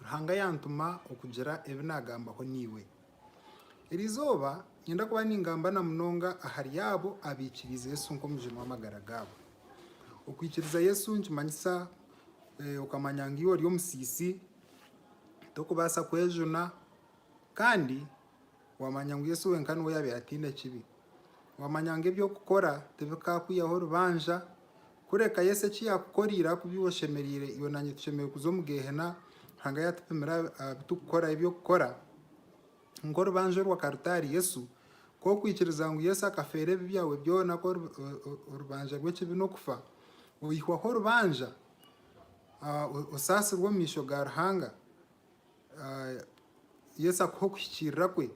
Ruhanga yaantuma okugira ebi naagambaho naiwe. Eri izooba niinyenda kuba ningamba na munonga ahari abo abaikiriize Yesu nk'Omugyeni w'amagara gaabo. Okwikiriza Yesu nikimanyisa okamanya ngu iwe ori omusiisi, torikubaasa kwejuna, kandi Waamanya ngu Yesu wenka niwe yaabaire ataine kibi. Waamanya ngu eby'okukora tibikaakwihaho rubanja. Kureka Yesu eki yaakukoreire ahaku bi oshemereire, iwe nanye tushemereire kuza omu Geehena Ruhanga yaatupimira aha bi turikukora. Eby'okukora nk'orubanja orwa karutaari. Yesu, ku okwikiriza ngu Yesu akafeera ebibi byawe byona, ku orubanja rw'ekibi n'okufa, oihwaho orubanja, osaasirwe omu maisho ga Ruhanga. Yesu akuhe okuhikiirira kwe,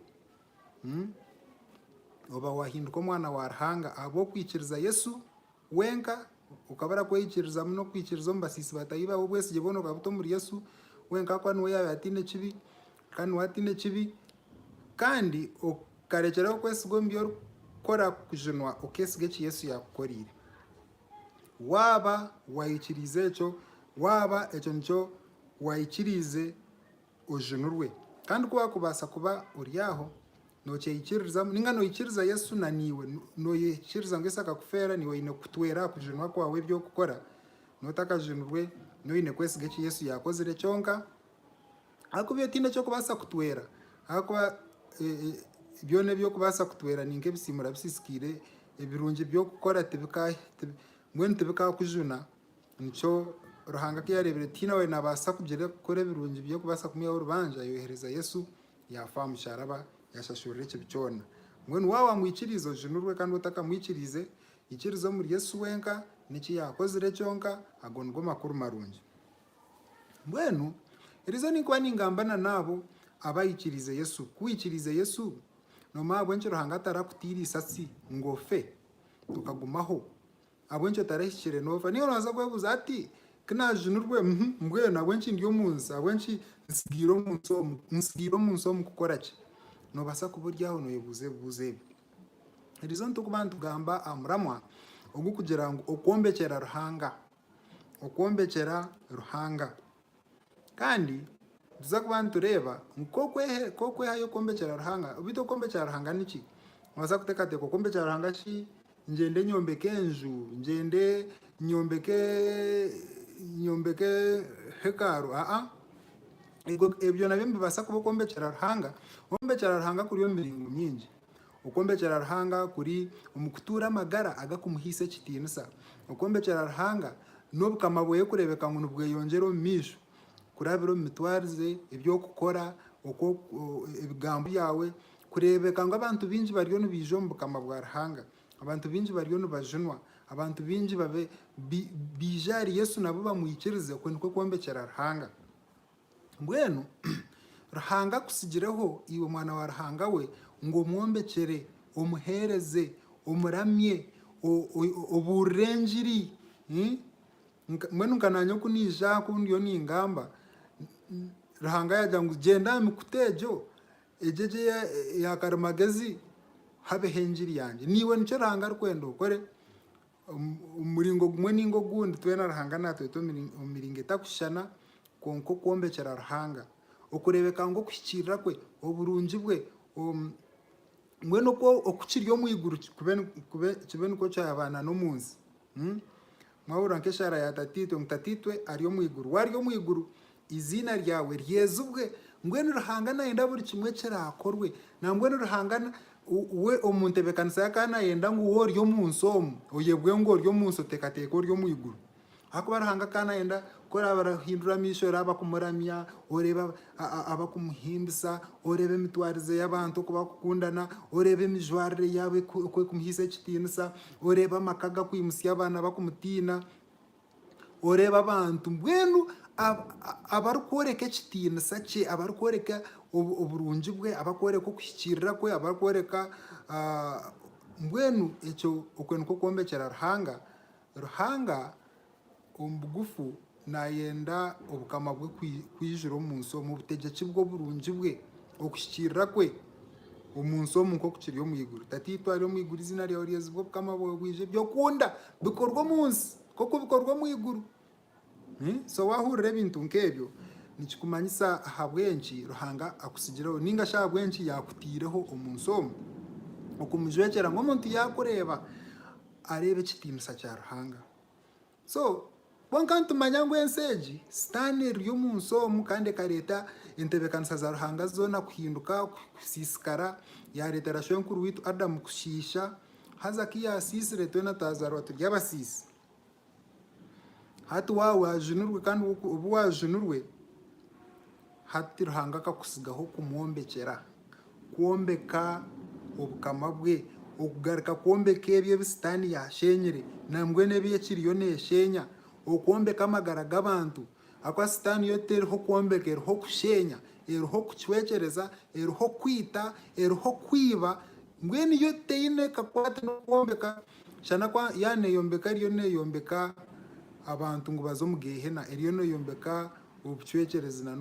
oba wahinduka omwana wa Ruhanga ahabw'okwikiriza Yesu wenka, okaba orakweyikirizamu n'okwikiriza omu basiisi batahi bawe, obwesigye bwona okabuta omuri Yesu wenka ahakuba niwe yaabaire ataine ekibi, kandi niwe ataine ekibi, kandi okarekyeraho okwesiga omu bi orikukora kujunwa okesiga eki Yesu yaakukoreire. Waaba wayikiriize ekyo, waaba ekyo nikyo waikiriize ojunurwe. Kandi ku waakubaasa kuba ori aho, nookyeikiririzamu nainga noikiriza Yesu na niiwe noikiriza ngu Yesu akakufeera, niiwe oine kutwera aha kujunwa kwawe ebi orikukora. Noba otakajunirwe, niiwe oine kwesiga eki Yesu yaakozire kyonka. Ahakuba iyo tiine eki orikubaasa kutwera ahakuba byona ebi orikubaasa kutwera ni nk'ebisiimura bisisikaire, ebirungi ebi orikukora mbwenu tibikaakujuna. Nikyo Ruhanga ku yaareebire ku tihaine owaabaasa kugira kukora ebirungi by'okubaasa kumwihaho orubanja, yoohereza Yesu yaafa aha musharaba yaashashurira ekibi kyona. Mbwenu waaba wamwikiriize ojunurwe kandi waaba otakamwikiriize, ikiriza omuri Yesu wenka n'eki yaakozire kyonka, ago nigo makuru marungi. Mbwenu eriizooba ninkuba ningamba n'abo abaikiriize Yesu. Ku waikiriize Yesu, noomanya ahabw'enki Ruhanga atarakutiire eisasi ngu ofe, okagumaho. Ahabw'enki otarahikire noofa? Niga noobaasa kwebuuza ati, Ku naajunirwe, mbwenu ahabw'enki ndi omu nsi? Ahabw'enki ntsigaire omu nsi omu? Ntsigaire omu nsi omu kukora ki? Noobaasa kuba ori aho nooyebuuza ebibuuzo ebi. Erizooba nitukuba nitugamba aha muramwa ogurikugira ngu Okwombekyera Ruhanga. Okwombekyera Ruhanga. Kandi nituza kuba nitureeba ngu ku okwehayo kwombekyera Ruhanga, beitu okwombekyera Ruhanga niki? Noobaasa kuteekateeka okwombekyeera Ruhanga shi ngyende nyombeke enju, ngyende nyombeke nyombeke hekaru? Aa, ebyo nabyo nibibaasa kuba okwombekyera Ruhanga. Okwombekyera Ruhanga kuri omu miringo mingi. Okwombekyera Ruhanga kuri omu kutuura amagara agakumuhaisa ekitiinisa. Okwombekyera Ruhanga n'Obukama bweye kureebeka ngu nibweyongyera omu maisho kurabira omu mitwarize, eby'okukora, ebigambo byawe. Kureebeka ngu abantu baingi bariyo nibaija omu Bukama bwa Ruhanga. Abantu baingi bariyo nibajunwa. Abantu baingi baije ahari Yesu nabo bamwikirize. Okwo nikwo kwombekyera Ruhanga. Mbwenu Ruhanga akutsigireho, iwe mwana wa Ruhanga we, ngu omwombekyere, omuheereze, omuramye, obuurire engiri. Mbwenu nka naanye oku naija aha ku ndiyo ningamba, Ruhanga yaagira ngu gyenda aha mikuta egyo, egyo egi eya karimagezi, habeho engiri yangye. Naiwe nikyo Ruhanga arikwenda okore. Omu muringo gumwe nainga ogundi, twena Ruhanga naatweta omu miringo etarikushushana, kwonka okwombekyera Ruhanga, okureebeka ngu okuhikiirira kwe, oburungi bwe, mbwenu oku oku kiri omu iguru kibe nikwo kyaba n'omu nsi. Mwahurira nk'eshaara ya Tataitwe ngu Tataitwe ari omu iguru. Waaba ari omu iguru, Eiziina ryawe ryezibwe. Mbwenu Ruhanga nayenda buri kimwe kirakorwe. Nambwenu Ruhanga we omu ntebekanisa ye akaba nayenda ngu we ori omu nsi omu oyebwe ngu ori omu nsi oteekateeka ori omu iguru. Ahakuba Ruhanga akaba nayenda ku oraabe orahindura amaisho oraabe akumuramya, oreebe abakumuhimbisa, oreebe emitwarize y'abantu oku barikukundana, oreebe emijwarire yaabo oku erikumuhaisa ekitiinisa, oreebe amaka gakwimutsya abaana bakumutiina. Oreeba abantu mbwenu abarikworeka ekitiinisa kye, abarikworeka oburungi bwe, abarikworeka okuhikiirira kwe, abarikworeka mbwenu ekyo okwe nikwo kwombekyera Ruhanga? Ruhanga omu bugufu naayenda obukama bwe kwijura omu nsi omu, obutegyeki bwe, oburungi bwe, okuhikiirira kwe. Omu nsi omu nk'oku kiri omu iguru. Tataitwe ari omu iguru, eiziina ryawe ryezibwe, obukama bwawe bwije, ebi okunda bikorwe omu nsi nk'oku bikorwa omu iguru. So waahurira ebintu nk'ebyo nikikumanyisa ahabw'enki Ruhanga akutsigireho ninga shi ahabw'enki yaakutaireho omu nsi omu. Okumujwekyera ngu omuntu yaakureeba areeba ekitiinisa kya Ruhanga. So, kwonka nitumanya ngu ensi egi, Sitaane, eri omu nsi omu kandi ekareeta entebeekanisa za Ruhanga zoona kuhinduka, kusiisikara, yaareetera shwenkuru waitu Adamu kushiisha, haza ku yaasiisire twena twazaarwa turi abasiisi. Hati waaba waajunirwe kandi obu waajunirwe, Hati Ruhanga akakutsigaho kumwombekyera, kwombeka Obukama bwe, okugaruka kwombeka ebyo ebi Sitaane yaasheenyire nambwenu ebi ekiriyo neesheenya, okwombeka amagara g'abantu. Ahakuba Sitaane yo teriho kwombeka, eriho kusheenya, eriho kucwekyereza, eriho kwita, eriho kwiba, mbwenu yo teine kakwate n'okwombeka, shana ku yaaneeyombeka eriyo neeyombeka abantu ngu baze omu Geehena, eriyo neeyombeka obucwekyerezi na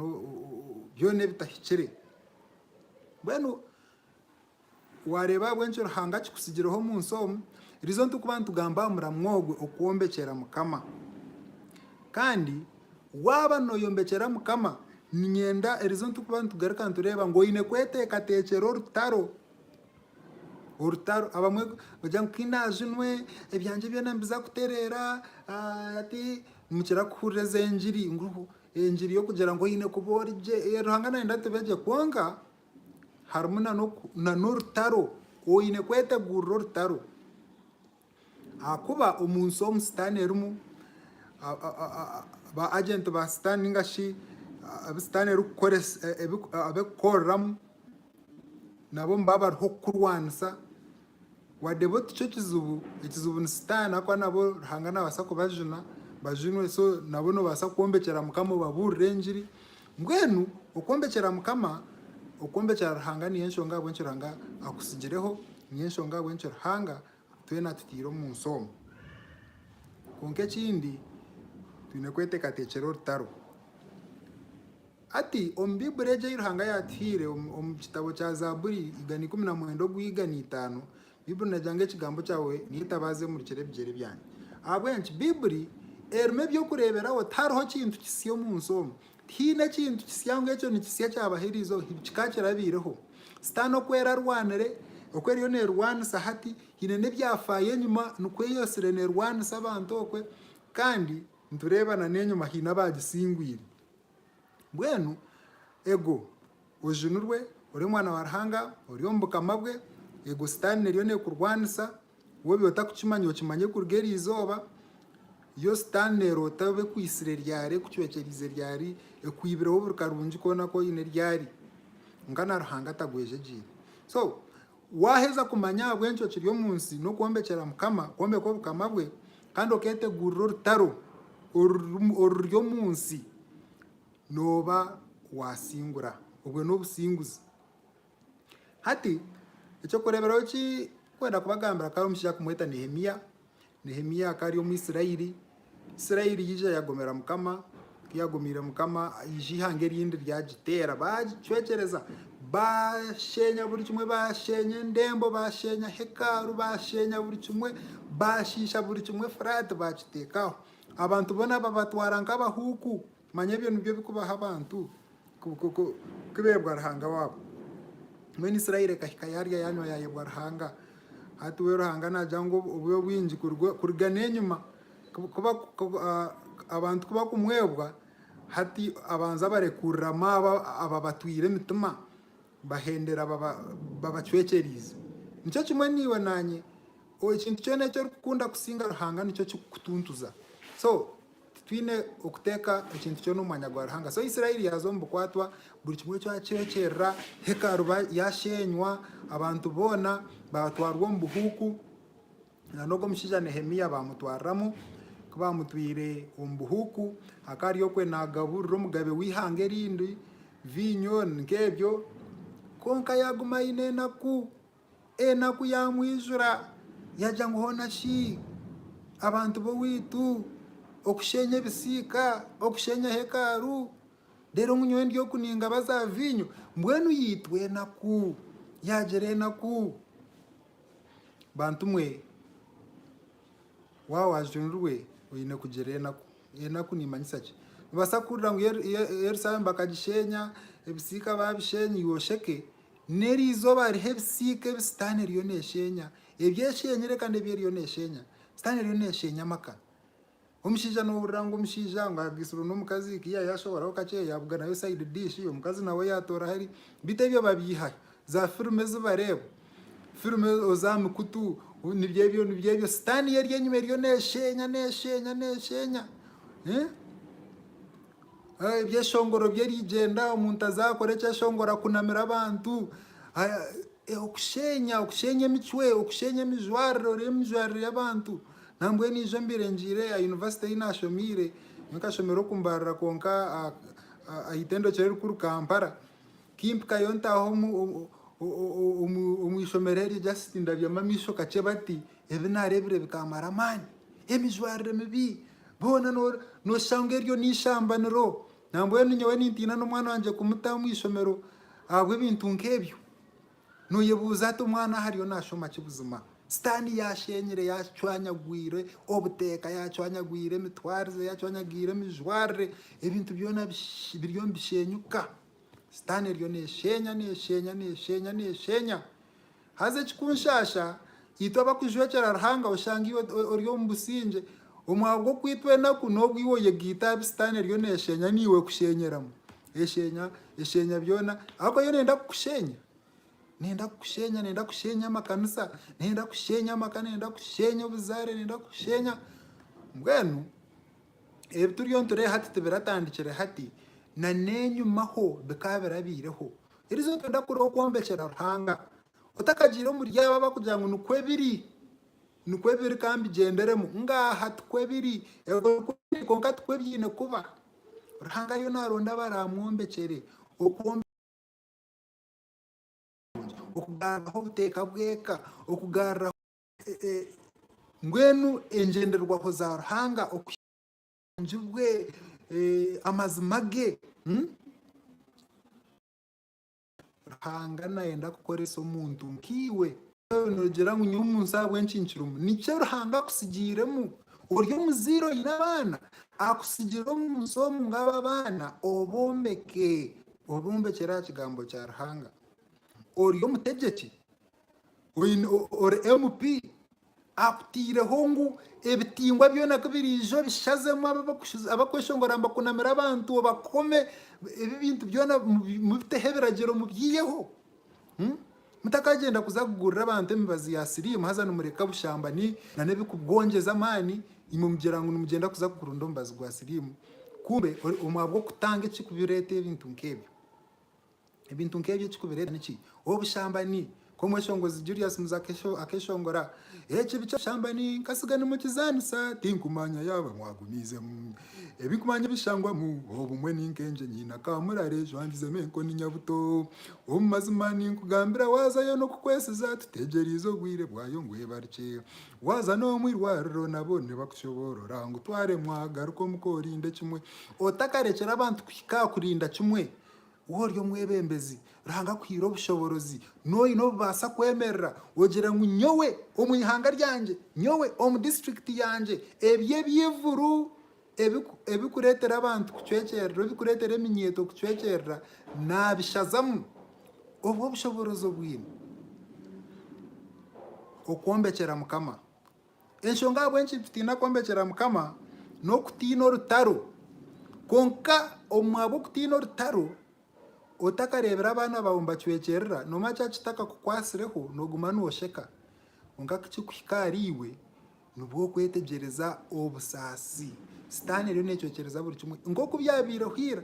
byona ebitahikire. Mbwenu waareeba ahabw'enki Ruhanga akikutsigireho omu nsi omu, rizo nitukuba nitugamba aha muramwa ogwe okwombekyera Mukama. Kandi waaba nooyombekyera Mukama, niinyenda erizo nitukuba nitugaruka nitureeba ngu oine kweteekateekyera orutaro. orutaro abamwe bagira ngu kundaaza onwe ebyangye byona nibiza kutereera ati nimukira kuhurira ezi engiri ngu engiri y'okugira ngu oine kuba ori gye ee Ruhanga nayenda tube gye kwonka harimu na n'orutaro oine kweteguurira orutaro. Ahakuba omu nsi omu Sitaane erimu, ba ajenti ba Sitaane ninga shi abu Sitaane erikukoreramu nabo nibaba bariho kukurwanisa. Wadde bo tikyo kizibu, ekizibu ni Sitaane ahakuba nabo Ruhanga naabaasa kubajuna bajunwe. So nabo noobaasa kwombekyera Mukama obabuurire engiri. Mbwenu okwombekyera Mukama, okwombekyera Ruhanga niyo enshonga ahabw'enki Ruhanga akutsigireho, niyo enshonga ahabw'enki Ruhanga twena atutaire omu nsi omu. Kwonka ekindi twine kweteekateekyera orutaro. Hati omu Baiburi egi ei Ruhanga yaatuhaire, omu kitabo kya Zaaburi, igana ikumi na mwenda ogw'igana itaano, Baibuli neegira ngu ekigambo kyawe niyo itabaaza emurikire ebigyere byange. Ahabw'enki? Baibuli erimu eby'okureeberaho. Tihariho kintu kisya omu nsi omu. Tihaine ekintu kisya ngu ekyo nikisya kyabaho eriizooba. Hibiki ka kirabaireho. Sitaane oku erarwanire, oku eriyo neerwanisa hati, haine n'ebyafaayo enyima nikwo eyesire neerwanisa abantu okwe. Kandi nitureeba na n'enyima haine abaagisingwire. Mbwenu ego, ojunirwe, ori omwana wa Ruhanga, ori omu Bukama bwe, ego Sitaane eriyo neekurwanisa, woobe otakukimanya okimanye kuruga eri izooba, yo Sitaane neeroota obe ekwaitsire ryari, ekucwekyereize ryari, ekwibireho buri karungi koona aku oine ryari, kwonka na Ruhanga atagwejegyeire. So, Waaheza kumanya ahabw'enki okiri omu nsi n'okwombekyera Mukama, kwombeka Obukama bwe, kandi okeetegurira orutaro oruri omu nsi, nooba waasingura. Obwo n'obusinguzi. Hati, eky'okureeberaho eki nkwenda kubagambira, kandi omushija kumweta Nehemia, Nehemia akaba ari omu Isiraeli. Isiraeli yaija yagomera Mukama. Ku yaagomiire Mukama, yaija eihanga erindi ryagiteera. Baagicwekyereza, baasheenya buri kimwe. Baasheenya endembo, baasheenya hekalu, baasheenya buri kimwe. Baashiisha buri kimwe Efuraati baakiteeka aho. Abantu boona babatwara nk'abahuuku. Manya ebyo nibyo bikubaho abantu kubebwa Ruhanga wabo. Mbwenu Israeli ekahika yarya yanywa yayebwa Ruhanga. Hati we Ruhanga nagira ngu obube bwingi kuruga n'enyima abantu kubakumwebwa hati abanze abarekuriramu abo ababatwire emitima bahendera babacwekyerize. Nikyo kimwe naiwe nanye ekintu kyona eki orikukunda kusinga Ruhanga nikyo kikukutuntuza. Titwine okuteeka ekintu kyona omu mwanya gwa Ruhanga. So Isiraeli yaaza omu bukwatwa, buri kimwe kyacwekyerera, hekalu yaasheenywa, abantu boona baatwarwa omu buhuuku, n'ogwo omushaija Nehemia baamutwariramu. Ku baamutwire omu buhuuku, akaba ari okwe naagaburira omugabe w'eihanga erindi viinyo nk'ebyo, kwonka yaaguma aine enaku. Enaku yamwijura yagya ngu hoona shi abantu b'owaitu okusheenya ebisiika, okusheenya hekalu, reero ngu nyowe ndi oku ningaba za viinyo. Mbwenu yaitwa enaku, yaagira enaku. Bantu mwe, waaba waajunirwe oine kugira enaku. Enaku niimanyisa ki? Noobaasa kuhurira ngu Ye Ye Yerusaalemu bakagisheenya, ebisiika baabisheenya iwe osheke. N'eri izooba hariho ebisiika ebi Sitaane eriyo neesheenya, ebi esheenyire kandi ebi eriyo neesheenya. Sitaane eriyo neesheenya amaka. Omushaija noohurira ngu omushaija ngu ahagisirwe n'omukazi, ku yaayashohoraho kakye yaabuganirayo side dish, omukazi nawe yaatooraho eri. Beitu ebyo babyiha aha, zaafirimu ezi bareeba, firimu oza aha mikutu, nibyo ebyo nibyo ebyo. Sitaane yo eri enyima eriyo neesheenya, neesheenya, neesheenya. Ebyeshongoro by'erigyenda omuntu azakora ekyeshongoro akunamire abantu okushenya okushenya emicwe okushenya emijwarire oreeba emijwarire y'abantu nambwenu ijo mbiire ngiire aha yunivasite ei nashomiire nyowe nkashomerwa okumbarira kwonka aha itendekero erikuru Kampala kimpikayo ntaaha omu ishomero eryo just ndabyamu amaisho kakye bati Ebi naareebire bikaamara amaani. Emijwarire mibi boona nooshanga eryo n'eishambaniro. Nambwenu nyowe nintiina n'omwana wangye kumuta omu ishomero ahabw'ebintu nk'ebyo. Nooyebuuza oti omwana aho ariyo naashoma ki buzima? Sitaani yaasheenyire yaacwanyagwire obuteeka, yaacwanyagwire emitwarize, yaacwanyagwire emijwarire. Ebintu byona biriyo nibisheenyuka. Sitaani eriyo neesheenya, neesheenya, neesheenya, neesheenya. Haza ekikunshasha, itwe abakujwekyera Ruhanga oshanga iwe ori omu busingye, omu ahabwo okwitwa enaku n'obwo iwe oyegaita aha bi Sitaane eriyo neshenya naiwe ekushenyeramu. Eshenya, eshenya byona, ahakuba yo nenda kukushenya. Nenda kukushenya, nenda kushenya amakanisa, nenda kushenya amaka, nenda kushenya obuzaare, nenda kushenya. Mbwenu ebi turiyo nitureeba hati tibiratandikire hati, na n'enyima ho bikaba birabaireho. Eriizooba nooyenda kureeba okwombekera Ruhanga otakagiire omuri abo abarikugira ngu nikwo biri, nikwo biri ka mbigyenderemu. Ngaaha tikwo biri. Ebyo nikwo biri kwonka tikwo byaine kuba. Ruhanga ariyo naaronda abaraamwombekyere. Okugaruraho obuteeka bw'eka, okugaruraho. Mbwenu engyenderwaho za Ruhanga oku. obulungi bwe, amazima ge. Ruhanga nayenda kukoresa omuntu nkaiwe. Nogira ngu nyowe omunsi ahabwenki nkirimu? Nikyo Ruhanga akutsigiiremu. Ori omuzaire oine abaana, akutsigire omunsi omu ngu abo abaana obombeke, obombekyere aha kigambo kya Ruhanga. Ori omutegyeki, ori MP akuteireho ngu ebitingwa byona kubiraija obishazemu abakweshongora nibakunamira abantu obakome ebi ebintu byona mubiteho ebiragiro mubyiyeho mutakagyenda kuza kugurira abantu emibazi ya siriimu haza nimureka obushambani nana ebikugongyeza amaani imwe mugira ngu nimugyenda kuza kurunda omubazi gwa siriimu kumbe omwe ahabwokutanga ekirikureeta ebintu nk'ebyo. Ebintu nk'ebyo ekikubireeta niki? Obushambani. Ka omweshongozi Julius Muzo akeshongora ekibi ky'obushambani, Nkatsiga nimukizaanisa, tinkumanya yaaba mwagumiizemu. Ebi nkumanya ebishangwamu, Obumwe ni nk'engye nyine akaamurare ejwangizemu enkoni nyabuto. Omu mazima ninkugambira waazayo n'okukwesiza tutegyereize obwire bwayo ngu ebarukye. Waaza n'omu irwariro nabo nibakushoboorora ngu twaremwa garuka omuka orinde kimwe. Otakarekyera abantu kuhika aha kurinda kimwe, Wowe ori omwebembezi, Ruhanga akuhaire obushoborozi, noine obubaasa kwemerera ogire ngu nyowe omu ihanga ryangye, nyowe omu disiturikiti yangye ebi eby'eivuru ebirikureetera abantu kucwekyerera, ebirikureetera eminyeeto kucwekyerera naabishazamu. Obwo obushoboorozi obwine okwombekyera Mukama Enshonga ahabw'enki nitutiina kwombekyeera Mukama n'okutiina orutaro. Kwonka omu ahabw'okutiina orutaro, otakareebire abaana baawe nibacwekyerera, noomanya kya kitakakukwatsireho nooguma noosheka. Kwonka ku kirikuhika ahariiwe, nibwo okwetegyereza obusaasi. Sitaane eriyo neecwekyereza buri kimwe nk'oku byabaireho ira.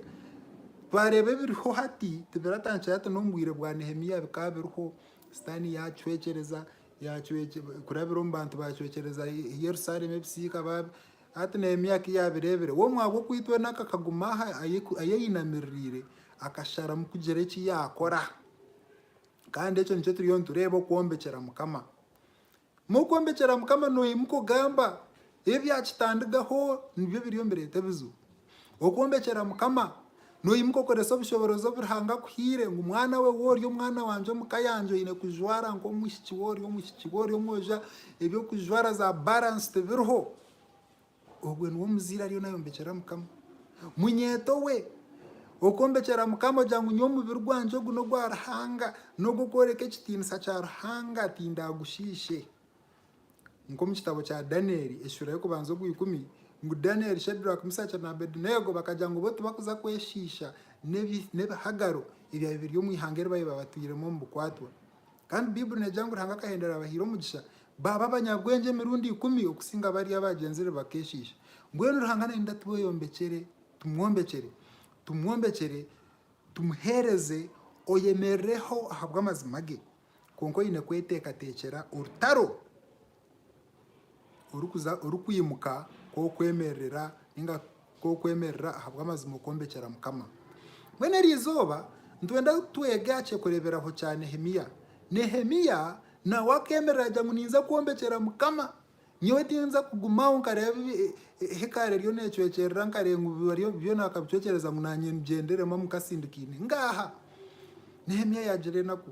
Twareeba ebiriho hati, tibiratandikira hati n'omu bwire bwa Nehemia bikaba biriho, Sitaane yaacwekyereza. kurabira omu bantu baacwekyereza Yerusalemu ebisiika baabi. Hati Nehemia ku yaabireebire, we omwaga okwita weena akaguma aha ahu ainamiririire, akasharamu kugira eki yaakora. Kandi ekyo nikyo turiyo nitureeba okwombekyera Mukama. Mu kwombekyera Mukama noimuka ogamba, Ebyakitandigaho nibyo biriyo nibireeta ebizibu. Okwombekyera Mukama, noimuka okorese obushoborozi obu Ruhanga akuhaire ngu mwana we we ori omwana wangye omu ka yangye oine kujwara nk'omwishiki we ori omwishiki we ori omwojo eby'okujwara za balance tibiriho. Ogwe niwe omuzaire ariyo nayombekyera Mukama. Munyeeto we, okwombekyera Mukama ogira ngu nyowe omubiri gwangye ogu n'ogwa Ruhanga, n'ogw'okworeka ekitiinisa kya Ruhanga tindaagushiishe. Nk'omu kitabo kya Danieli ekishuura y'okubanza ogwa ikumi, ngu Danieli, Shadraki, Misaki na Abedunego bakagira ngu bo tibakuza kweshiisha n'ebihagaro ebyabire biri omu ihanga eri baabaire batwiremu omu bukwatwa. Kandi Baibuli neegira ngu Ruhanga akahendera abahaire omugisha baaba abanyabwengye emirundi ikumi okusinga bariya abaagenzire bakeeshiisha. Mbwenu Ruhanga naayenda tweyombekyere, tumwombekyere, tumwombekyere, tumuheereze, oyemerireho ahabw'amazima ge. Kwonka oine kweteekateekyera orutaro orikuza orikwimuka kw'okwemerera ninga kw'okwemerera ahabw'amazima okwombekyera Mukama. Mbwenu eryo izooba nitwenda twege aha ky'okureeberaho kya Nehemia. Nehemia nawe akeemerera agira ngu ninza kwombekyera Mukama. Nyowe tinza kugumaho nkareeba ebi hekaari eriyo neecwekyerera, nkareeba ngu bi bariyo byona bakabicwekyereza ngu naanye ngyenderemu amu nkasindikaine. Ngaaha! Nehemia yaagira enaku.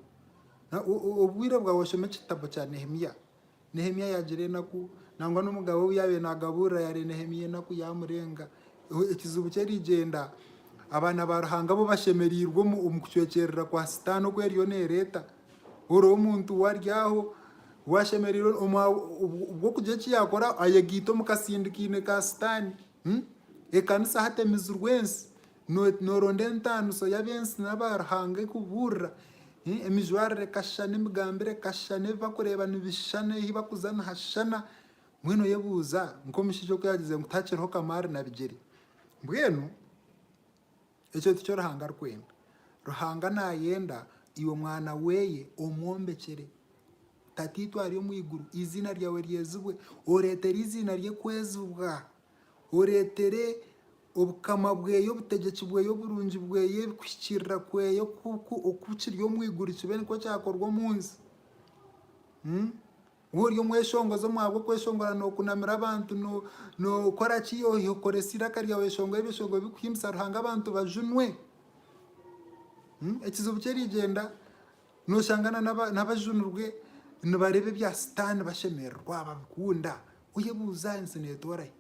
Na o- o- Obwire bwawe oshome ekitabo kya Nehemia. Nehemia yaagira enaku, nangwa n'omugabe ou yaabaire naagabuurira yaareba Nehemia enaku yaamurenga. O- Ekizibu kye rigyenda, abaana ba Ruhanga bo bashemereirwe omu omu kucwekyerera kwa Sitaane oku eriyo neereeta. Ori omuntu wari aho ou ashemereire obw'okugira eki yaakora ayegaita omu katsindikaine ka Sitaane. Ekanisa hati emizirwe ensi. Nooronda entaaniso y'ab'ensi n'aba Ruhanga ekubuurira. Emijwarire ekashushana, emigambire ekashushana, ebi barikureeba nibishushana, ahu barikuza nihashushana. Mbwenu oyebuuza nk'omushaija oku yaagyezire ngu tihakiriho kamaari na bigyere. Mbwenu Ekyo tikyo Ruhanga arikwenda. Ruhanga naayenda iwe mwana we omwombekyere Tataitwe ari omu iguru, eiziina ryawe ryezibwe, oreetere eiziina rye kwezibwa, oreetere Obukama bwe, Obutegyeki bwe, oburungi bwe, kuhikiirira kwe oku kiri omu iguru kibe nikwo kyakorwa omu nsi. Waaba ori omweshongozi omwabo okweshongora nokunamira abantu nokora ki oyiha okukoresa iraka ryawe eshonga ebishongo bikuhimbisa Ruhanga abantu bajunwe ekizibu kyerigyenda noshanga nabajunirwe nibareeba ebya sitaani bashemererwa babikunda oyebuuza ensi netorahi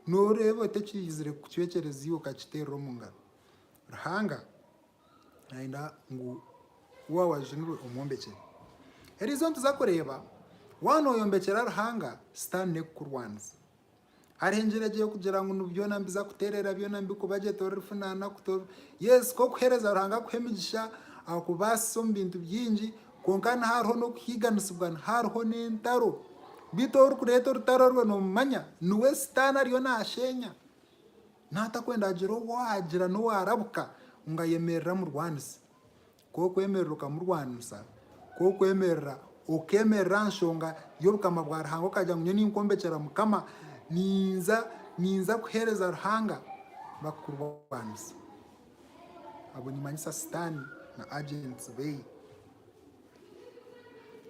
noreeba oti ekihizire kucwekyereza iwe okakiteerera omungaro Ruhanga Nayenda ngu waaba wajunirwe omwombekyere. Eriizooba nituza kureeba waaba noyombekyera Ruhanga, sitaani n'ekukurwaniza. Hariho engyera egi erikugira ngu nigu byona nibiza kuteerera byona nibikubagyeta orifunaana kutoorwa. Yes nk'okuheereza Ruhanga akuhe emigisha, akubaasise omu bintu bingi kwonka niho hariho n'okuhiiganisibwa, niho hariho n'entaro. Beitu orikureeta orutaro orwe noomumanya niwe sitaani ariyo naasheenya. Naatakwenda hagire ou waagira n'owaarabuka ngu ayemerere amurwanise. Ku okwemerera okamurwanisa, ku okwemerera okeemerera aha nshonga y'Obukama bwa Ruhanga okagira ngu nyowe ninkombekyera Mukama, ninza ninza kuheereza Ruhanga, bakukurwanisa. Abu nimanyisa Sitaane na agents be.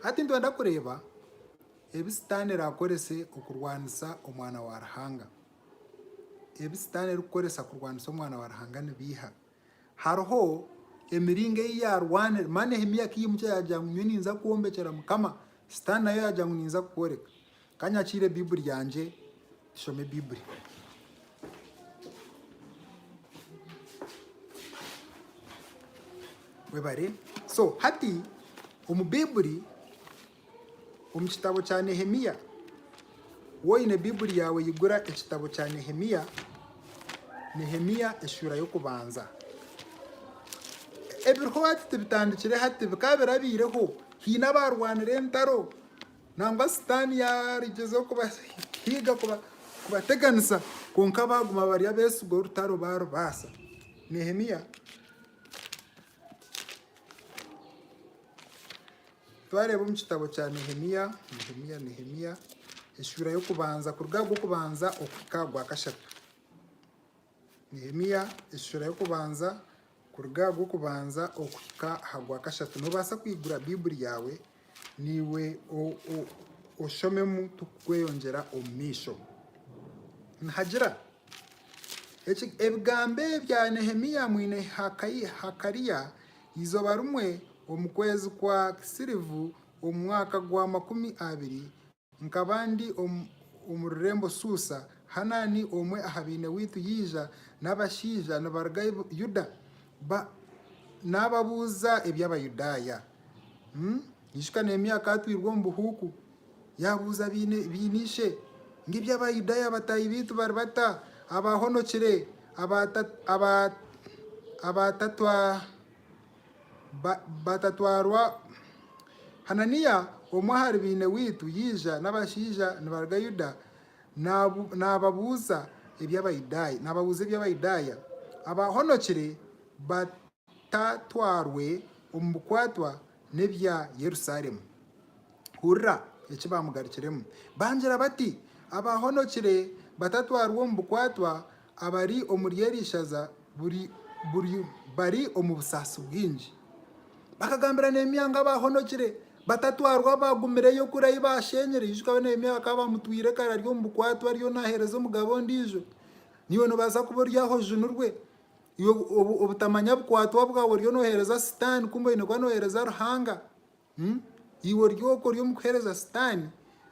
Hati nitwenda kureeba ebi Sitaane araakorese okurwanisa Omwana wa Ruhanga. ebi Sitaane erikukoresa kurwanisa Omwana wa Ruhanga ni biiha? Hariho emiringo ei yaarwanire. Mana Nehemia ku yaimukire yaagira ngu, Nyowe ninza kwombekyera Mukama. Sitaane nayo yaagira ngu, Ninza kukworeka. Ka nyakiire Baibuli yangye tushome Baibuli. Webare. So hati omu Baibuli Omu kitabo kya Nehemia, waaba oine Baiburi yaawe eigura ekitabo kya Nehemia, Nehemia eshuura y'okubanza. Ebiriho hati tibitandikire hati, bikaba birabaireho haine abaarwanire entaro nangwa sitaani yaagyezaho kubahiga kubateganisa kwonka baaguma bari abeesigwa orutaro baarubaasa. Nehemia. Twareeba omu kitabo kya Nehemia, Nehemia, Nehemia, eshuura y'okubanza kuruga aha gw'okubanza okuhika aha gwakashatu. Nehemia eshuura y'okubanza kuruga aha gw'okubanza okuhika aha gwakashatu. Noobaasa kwigura Baibuli yaawe naiwe oshomemu turikweyongyera omu maisho. Nihagira ebigambo ebya Nehemia mwine Hakaliya. Eizooba rimwe omu kwezi kwa Kisirivu omu mwaka gwa makumi abiri, nkaba ndi omu rurembo Suusa, Hanani omwe aha baine waitu yaija n'abashaija nibaruga Yuda naababuuza eby'Abayudaaya. Ijuka Neemiya akaatwirwa omu buhuuku, yaabuuza baine ishe ngu, Eby'Abayudaaya bataahi baitu bari bata abaahonokire abatatwarwa? Hananiya, omwe ahari baine waitu yaija n'abashaija nibaruga Yuda naababuuza eby'Abayudaaya abaahonokire. Tatwarwe omu bukwatwa n'ebya Yerusalemu. Hurira eki baamugarukiremu. Baagira bati, Abaahonokire batatwarwa omu bukwatwa abari omuri eri ishaza bari omu busaasi bwingi. Bakagambira Neemia ngu abaahonokire batatwarwa baagumireyo kuri ahi baasheenyire. Ijuka we Neemia bakaba baamutwire kare ari omu bukwatwa ariyo naaheereza omugabo ondiijo. Naiwe noobaasa kuba ori aho ojunirwe. Yobu, obutamanya bukwatwa bwawe oriyo nohereza sitaani kumbe oyine kuba nohereza Ruhanga. Hmm? Iwe ori oku ori omu kuhereza sitaani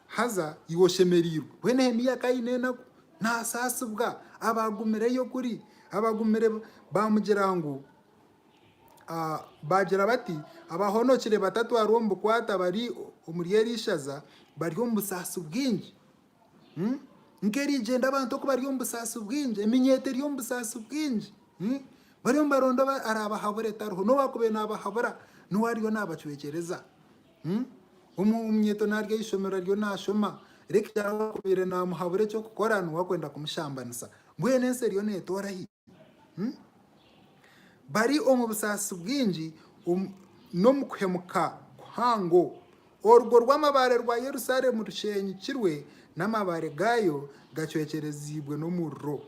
haza iwe oshemereirwe. Bwe Nehemiya ka aine enaku nasaasibwa abaagumireyo kuri abaagumire baamugira ngu ah, baagira bati abahonokire batatwarwa omu bukwate abari omuri eri ishaza bari omu busaasi bwingi. nk'erigyenda abantu oku bari omu busaasi bwingi, eminyeeto eri omu busaasi bwingi. Bariyo nibaronda araabahabura etariho. N'obu waakubaire naabahabura, niwe ariyo naabacwekyereza. Omunyeeto naaryo eishomero ariyo naashoma, reero waakubaire naamuhabura eky'okukora niwe arikwenda kumushambanisa. Mbwenu ensi eriyo neetoora hi? bari omu busaasi bwingi n'omu kuhemuka kuhango. Orugo rw'amabaare rwa Yerusaalemu rusheenyukirwe, n'amabaare gaayo gacwekyereziibwe n'omuriro.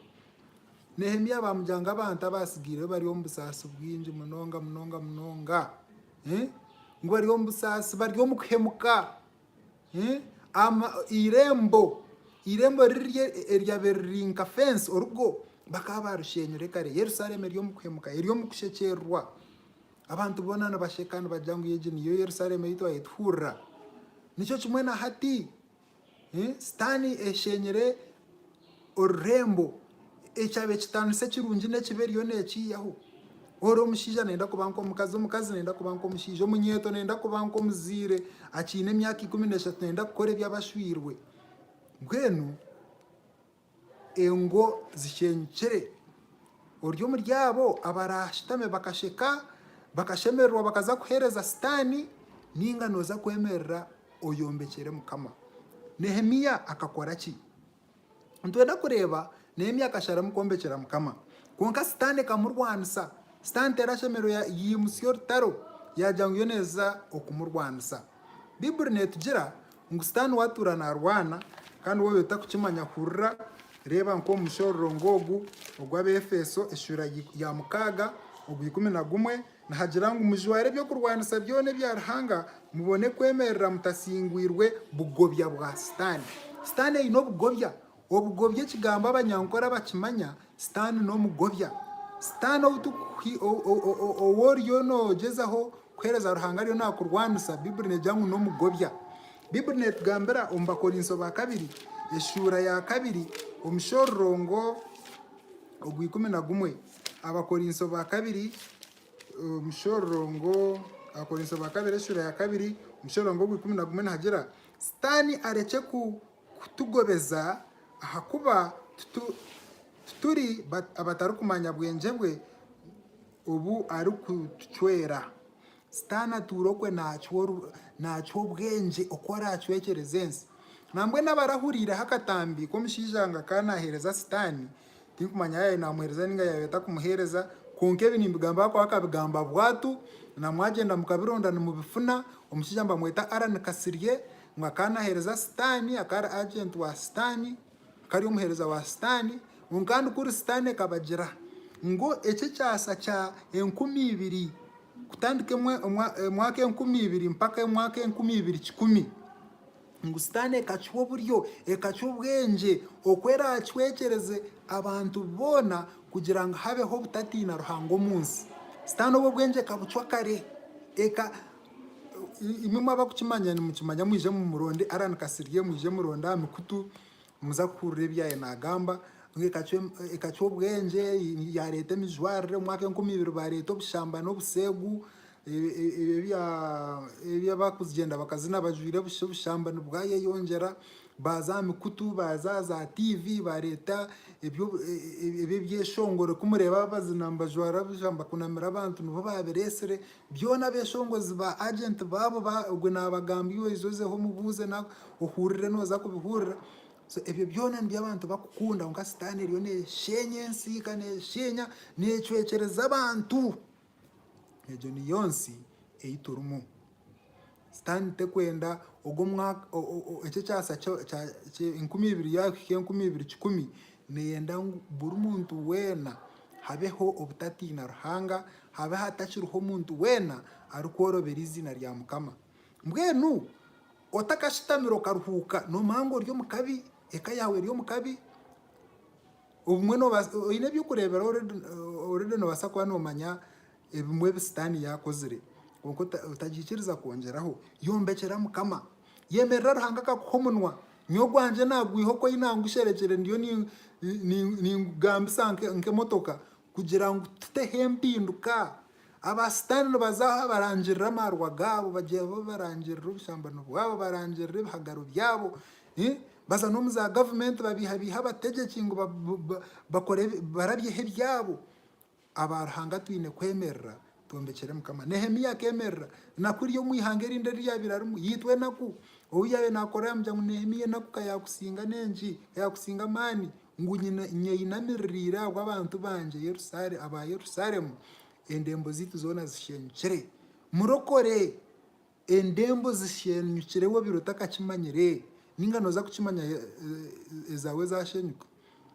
Nehemia baamugira ngu abantu abaatsigaireo bari omu busaasi bwingi munonga munonga munonga. Ngu bari omu busaasi, bari omu kuhemuka. Eirembo, eirembo riri eryabaire riri nka fensi, orugo bakaba baarusheenyire kare. Yerusalemu eri omu kuhemuka, eri omu kushekyererwa. Abantu boona nibasheka nibagira ngu egi niyo Yerusalemu ei twaabaire tuhurira. Nikyo kimwe na hati, Sitaane esheenyire orurembo, ekyaaba ekitaanisa ekirungi n'ekibi eriyo nekiihaho, ori omushaija nayenda kuba nk'omukazi, omukazi nayenda kuba nk'omushaija, omunyeeto nayenda kuba nk'omuzaire akiine emyaka ikumi n'eshatu nayenda kukora ebi abashwiirwe, mbwenu engo zishenyukire, ori omuri abo abaraashutame bakasheka, bakashemererwa bakaza kuheereza sitaani nainga noza kwemerera oyombekyere Mukama? Nehemia akakora ki? Nitwenda kureeba n'ebi akasharamu kwombekyera Mukama. Kwonka Sitaane ekamurwanisa. Sitaane terashemererwa yaimutsya orutaro yaagira ngu yo neeza okumurwanisa. Baiburi neetugira ngu Sitaane ou atuura naarwana kandi waabaire otarikukimanya hurira reeba nk'omu mushororongo ogu ogw'Abeefeso eshuura ya mukaaga ogwa ikumi na gumwe Nihagira ngu mujware eby'okurwanisa byona ebya Ruhanga, mubone kwemerera mutasingwirwe bugobya bwa Sitaane. Sitaane aine obugobya. Obugobya ekigambo abanyankore bakimanya, Sitaane n'omugobya. Sitaane ou oriyo noogyezaho kuheereza Ruhanga ariyo naakurwanisa, Baiburi neegira ngu n'omugobya. Baiburi neetugambira omu Bakorinso ba kabiri eshuura ya kabiri omushororongo ogw'ikumi na gumwe. Abakorinso ba kabiri omushororongo Abakorinso ba kabiri eshura ya kabiri omushororongo ogw'ikumi na gumwe nihagira Sitaani arekye kutugobeza ahakuba tituri abatarikumanya bwengye bwe obu arikutucwera. Sitaane atuura okwe naakiha obwengye oku araacwekyereze ensi. Nambwenu aba arahuriireho akatambi k'omushaija ngu akaba naaheereza Sitaane, tinkumanya yaaba yaabaire naamuheereza nainga yaabaire atarikumuheereza, kwonka ebi nimbigamba ahabw'okuba akabigamba bwatu, na mwagyenda mukabironda nimubifuna, omushaija nibamweta Allan Kasirye, ngu akaba naaheereza Sitaane, akaba ari agenti wa Sitaane. Kari omuheereza wa Sitaane, ngu kandi kuri Sitaane kabagira ngu eki ekyasa kya enkumi ibiri kutandika emwaka enkumi ibiri mpaka emwaka enkumi ibiri kikumi, ngu Sitaane ekakiha oburyo, ekakiha obwengye oku eraacwekyereze abantu boona kugira ngu habeho obutatiina Ruhanga omu nsi. Sitaane obu obwengye ekabucwa kare, Imwe mwaba kukimanya nimukimanya mwije mumuronde Allan Kasirye mwije muronde aha mikutu nimuza kuhurira ebi yaabaire naagamba ngu ekacwa obwengye, yaareeta emijwarire omu mwaka enkumi ibiri baareeta obushamba n'obuseegu, ebi abarikugyenda bakazina bajwaire busha obushamba nibwayeyongyera, baaza aha mikutu baaza aha za tiivi baareeta ebyeshongoro ku mureeba bazina nibajwara busha nibakunamira abantu nibo baabireetsire Byona abeshongozi ba agent baabo ba ogwe nabagambye oije ozeho omubuuze nawe ohurire noza kubihurira so ebyo byona nibyo abantu bakukunda kwonka sitaane eriyo neshenya ensi ka neshenya necwekyereza abantu egyo niyo nsi eyiturimu Sitaani terikwenda ogu omwaka, eki ekyasa enkumi ibiri yaahika enkumi ibiri kikumi, neeyenda ngu buri muntu weena habeho obutatiina Ruhanga, habe hatakiriho omuntu weena arikworobera eiziina rya Mukama. Mbwenu otakashutamire okaruhuuka noomanya ngu ori omu kabi, eka yaawe eri omu kabi, obumwe oine eby'okureeberaho oredi noobaasa kuba noomanya Ebimwe ebi Sitaane yaakozire kwonka otagiikiriza kwongyeraho, yombekyera Mukama. Yemerera Ruhanga akakuha omunwa. Nyowe ogwangye naagwiha oku aine angusherekire ndiyo ningugambisa nk'emotoka kugira ngu tuteho empinduka. Aba Sitaane nibaza aha barangirira amaarwa gaabo, bagira abu barangirira obushambani bwabo, barangirira ebihagaro byabo. Baza n'omu zaagavumenti babeihabeihe abategyeki ngu bakore barabyeho ebyabo. aba Ruhanga twine kwemerera twombekyere Mukama. Nehemia akemerera na kurya omu ihanga erindi eri yaabaire arimu. Yaitwa enaku, ou yaabaire naakora yaamugira ngu, Nehemia enaku ka yaakusinga n'engi, ka yaakusinga amaani, ngu nyeyinamiririire ahabw'abantu bangye aba Yerusalemu, endembo zaitu zoona zishenyukire. Murokore! Endembo zisheenyukire we obeire otakakimanyire ninga noza kukimanya ezawe ezashenyuka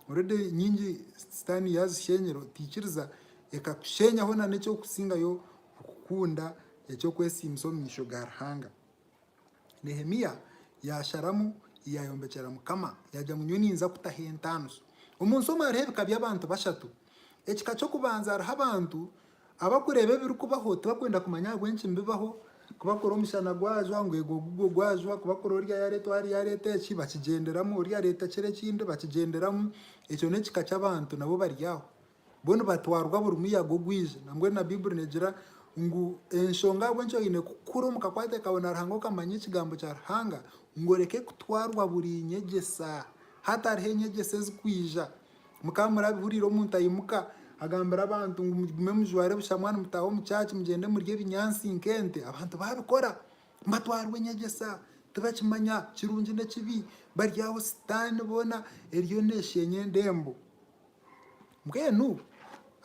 already nyingi sitani yazishenyera otikiriza ekakushenyaho na nekyokusingayo okukunda ekyokwesiimisa omu maisho ga Ruhanga. Nehemia yasharamu yayombekyera mukama yagira ngu nyowe ninza kutaho entaaniso. Omunsi omu hariho ebika byabantu bashatu ekika kyokubanza hariho abantu Abarikureeba ebirikubaho tibarikwenda kumanya ahabw'enki nibibaho, ku barikora omushana gwajwa ngu egwo gugwo gwajwa, ku barikora oriya yaareetwa hariya yaareeta eki bakigyenderamu, oriya areeta kiri ekindi bakigyenderamu. Ekyo n'ekika ky'abantu nabo bari aho. Bo nibatwarwa buri muyaga ogwije. Nambwenu na Baiburi neegira ngu enshonga ahabw'enki oine kukura omu kakwate kaawe na Ruhanga okamanya Ekigambo kya Ruhanga, ngu oreke kutwarwa buri nyegyesa. Hatariho enyegyesa ezirikwija. Mukaba murabihuriire omuntu aimuka agambira abantu ngu mugume mujware busha mwanu mutaahe omu church mugyende murye ebinyaatsi nk'ente. Abantu baabikora batwarwa enyegyesa tibakimanya kirungi n'ekibi. Bari aho sitaani boona eriyo neesheenya endembo. Mbwenu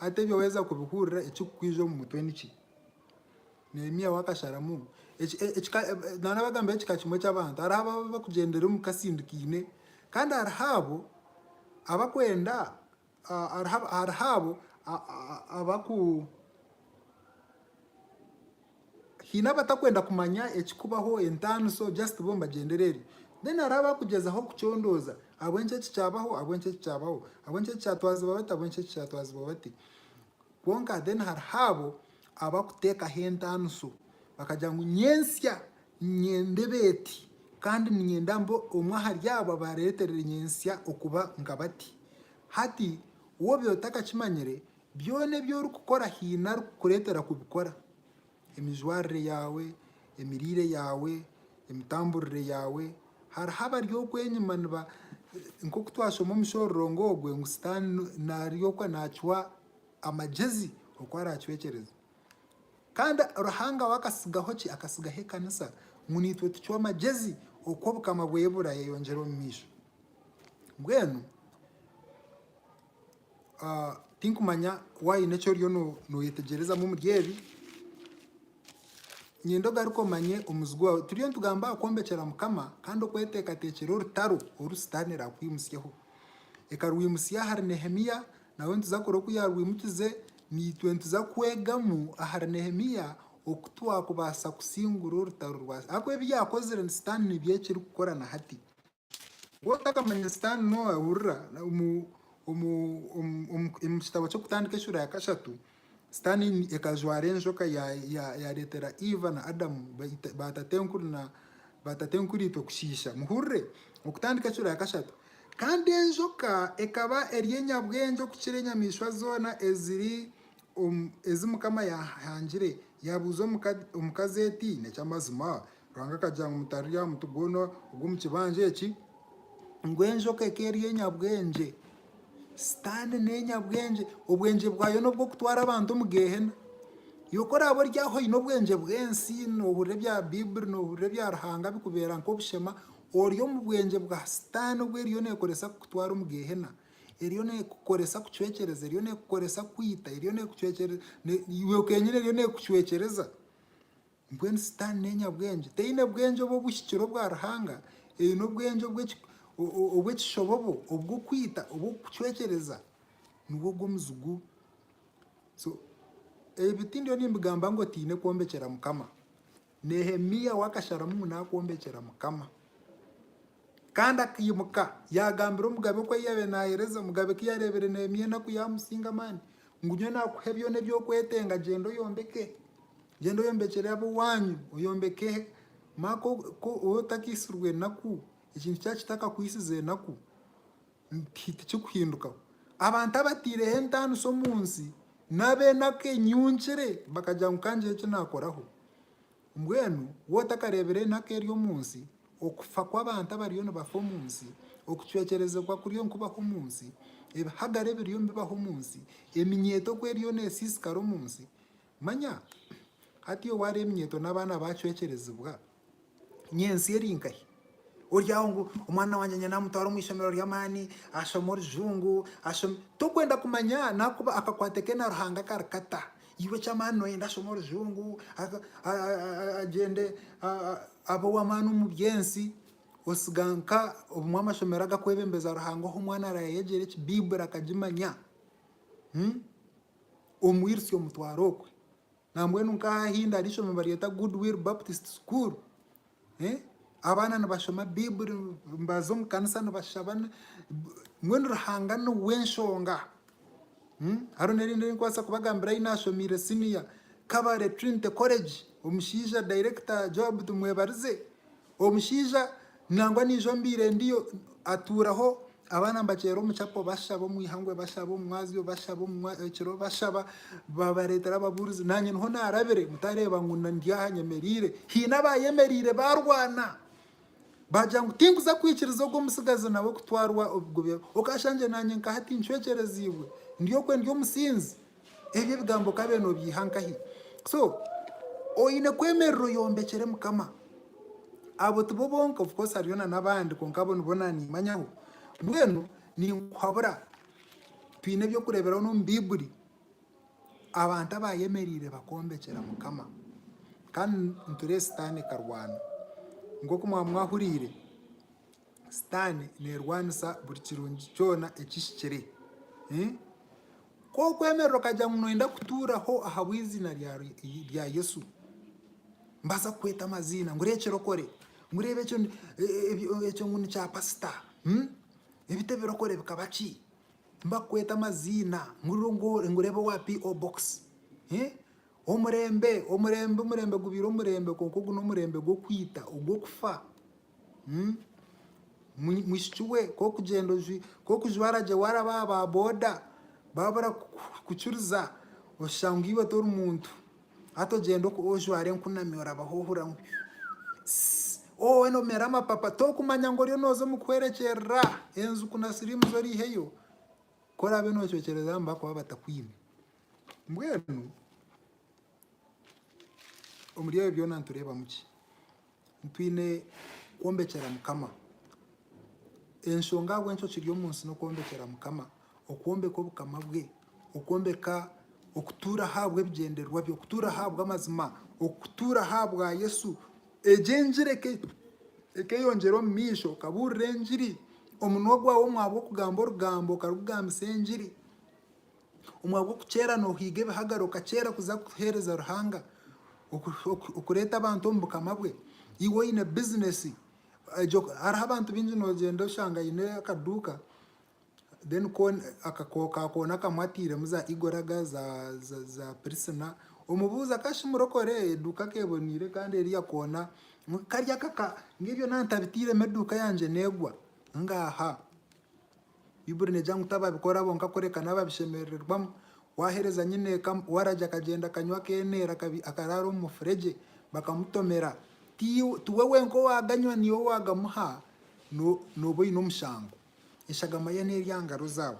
hati ebyo waaheza kubihurira ekirikukwija omu mutwe niki? Nehemia we akasharamu ekika, naanabagambireho ekika kimwe ky'abantu, hariho abo ababa bakugyendera omu kasindikaine, kandi hariho abo abakwenda, hariho abo abaku, haine abatakwenda kumanya ekikubaho, entaano so just bo nibagyendera eryo. Then hariho abakugyezaho kucondooza ahabw'enki eki kyabaho, ahabw'enki eki kyabaho, ahabw'enki eki kyatwazibwa bata, ahabw'enki eki kyatwazibwa bati. Kwonka then hariho abo. abarikuteekaho entaaniso bakagira ngu nyentsya niinyenda ebeeti kandi niinyenda mbe omwe ahari abo abaareeterire nyentsya okuba nka bati. Hati, woobiire otakakimanyire, byona ebi orikukora haine arikukureetera kubikora. Emijwarire yaawe, emiriire yaawe, emitamburire yaawe. Hariho abari okwo enyima niba, nk'oku twashoma omu mushororongo ogwo ngu Sitaane ari okwo naakiha. Amagyezi oku araacwekyereza. Kandi Ruhanga we akatsigaho ki? Akatsigaho ekanisa ngu naitwe tucwe amagyezi oku obukama bweye buraayeyongyera omu maisho. Mbwenu tinkumanya waaba oine eki oriyo nooyetegyerezaamu omuri ebi, niinyenda ogaruke omanye omuzigu waawe. Turiyo nitugamba aha kwombekyeera Mukama kandi okweteekateekyera orutaro oru Sitaane eraakuhimutsyeho. Ekarwimutsya ahari Nehemia Nawe nituza kukora oku yaarwimukize, naitwe nituza kwegamu ahari Nehemia oku twakubaasa kusingura orutaro rwa Sitaane. Ahakuba ebi yaakozire ni Sitaane nibyo ekirikukora na hati. Waaba otakamanya Sitaane noohurira omu kitabo ky'Okutandika eshuura ya kashatu, Sitaane ekajwara enjoka yaareetera Iva na Adamu baatatenkuriitwe kushiisha. Muhurire, okutandika ekiro ya kashatu. Kandi enjoka ekaba eri enyabwengye okukira enyamaishwa zoona ezi Mukama yaahangire. Yaabuuza omukazi eti, Neky'amazima? Ruhanga akagira ngu, Mutararya aha muti gwona ogw'omu kibanja eki, ngu enjoka eka eri enyabwengye. Sitaane n'enyabwengye. Obwengye bwayo n'obw'okutwara abantu omu Geehena. Yo ku oraabe ori aho oine obwengye bw'ensi, noohurira ebya Baiburi, noohurira ebya Ruhanga bikubeera nk'obushema, ori omu bwengye bwa Sitaane obu eriyo neekoresa kukutwara omu Geehena. Eriyo neekukoresa kucwekyereza, eriyo neekukoresa kukwita, eriyo neekucwekyereza, iwe kenyine eriyo neekucwekyereza. Mbwenu Sitaane n'enyabwengye. Teine bwengye obu obuhikire obwa Ruhanga. Eine obwengye obw'ekishobobo, obw'okwita, obw'okukucwekyereza. Nibwo gw'omuzi gu. So, ebi tindiyo nimbigamba ngu otaine kwombekyera Mukama. Nehemia we akasharamu ngu naakwombekyera Mukama. Kandi akaimuka yaagambira omugabe oku yaabaire naaheereza, omugabe ku yaareebire Nehemia enaku yaamusinga amaani, ngu nyowe naakuhe byona ebi orikwetenga, gyenda oyombeke. Gyenda oyombekyere ab'owaanyu, oyombeke Maaka ku otakaihisirwe enaku, ekintu kyaba kitakakwisize enaku, tikikuhindukaho. Abantu abataireho entaaniso omu nsi, n'ab'enaku enyungire bakagira ngu ka ngire eki naakoraho. Mbwenu wotakareebire enaku eri omu nsi, okufa kw'abantu abariyo nibafa omu nsi, okucwekyerezibwa kuriyo nikubaho omu nsi, ebihagare ebiriyo nibibaho omu nsi, eminyeeto ku eriyo nesiisikara omu nsi, Manya, hati obu ari eminyeeto n'abaana baacwekyerezibwa, nyi ensi eri nkahi? Ori aho ngu, Omwana wangye niinyenda mutware omu ishomero ry'amaani, ashome orujungu, ashome. Torikwenda kumanya n'ahakuba akakwate ke na Ruhanga kari kata. Iwe eky'amaani nooyenda ashome orujungu, agyende abe ow'amaani omu by'ensi, osiga nka obumwe amashomero agakwebembeza Ruhanga ohu omwana arayeyegyera eki Baiburi akagimanya. omwirutsya omutwaro okwe nambwenu nkaha ahindi hari ishomero baryeta Good Will Baptist School abaana nibashoma baiburi nibaza omu kanisa nibashaba mbwenu Ruhanga niwe enshonga. Hariho nerindi erinkubaasa kubagambira ahi nashomiire siniya Kabale Trinity College omushaija director Joab Tumwebarize Omushaija nangwa naijo mbaire ndiyo atuuraho abaana mbaceera omu chapel bashaba omu ihangwe bashaba omu mwazyo bashaba omu ekiro bashaba babareetera ababuurizi naanye niho naarabire mutareeba ngu ndi aha nyemereire haine abaayemereire baarwana baagira ngu tinkuza kwikiriza ogwo omutsigazi nawe kutwarwa obugobe okaasha ngye naanye nkaha tincwekyereziibwe ndi okwe ndi omusinzi Ebyo ebigambo okabaire nobyiha nkahi? So oyine kwemerera oyombekyere mukama. Abo tibo bonka of course hariyo na nabandi kwonka abo nibo nanimanyaho. Mbwenu ninkuhabura twine ebyokureberaho nomu baiburi abantu abayemerire bakombekyera mukama kandi niturebe sitani karwana. Nkoku mwaba mwahurire Sitaane neerwanisa buri kirungi kyona ekihikire. Ku orikwemerera okagira ngu nooyenda kutuuraho ahabw'eiziina rya Yesu, nibaasa kukweta amaziina ngu ori ekirokore, ngu reeba ekyo ngu ni kyapasita, ebi tebirokore bikaba ki? Nibakukweta amaziina ngu reeba owa PO box. Omurembe, omurembe, omurembe gubaire omurembe kwonka ogu n'omurembe gw'okwita, ogw'okufa. Mwishiki we ku orikugyenda ku orikujwara gye waaraba aha ba boda baba barakukiriza oshusha ngu iwe tori muntu. Hati ogyende ojware enkunami orabaho ohurira ngu woona omere amapapa torikumanya ngu oriyo nooza omu kuhwerekyerera enjuku na siriimu zo oreiheyo. Ku oraabe noocwekyereza abo nibakuba batakwine. Mbwenu Omuri ebi byona nitureebamu ki? Nitwine kwombekyera Mukama. Enshonga ahabw'enki okiri omu nsi n'okwombekyera Mukama, okwombeka Obukama bwe, okwombeka okutuura ahabw'ebigyendererwa bye, okutuura ahabw'amazima, okutuura ahabwa Yesu. Egyo engiri ekeyongyera omu maisho, okabuurira engiri, omunwa gwawe omwabwo okugamba orugambo okarugugambisa engiri. Omu ahabw'okukyera noohiga ebihagaro okakyera kuza kuheereza Ruhanga, okureeta abantu omu bukama bwe. Iwe oine bizinesi, hariho abantu baingi noogyenda oshanga aine akaduuka then ka koona akamwe atairemu za igoraga, za pirisina, omubuuze akaba shi murokore? Eduuka akaba eboneire kandi eri aha koona, kari aka ka, ngu ebyo naatabitairemu eduuka yangye neegwa? Ngaaha! Baibuli neegira ngu tababikora bonka kureka n'ababishemerererwamu. Waaheereza nyineeka waragi akagyenda akanywa akeeneera akaraara omu mufuregye bakamutomera. Tiwe wenka owaaganywa naiwe owaagamuha nooba oine omushango. Eshagama ye n'eri aha ngaro zaawe.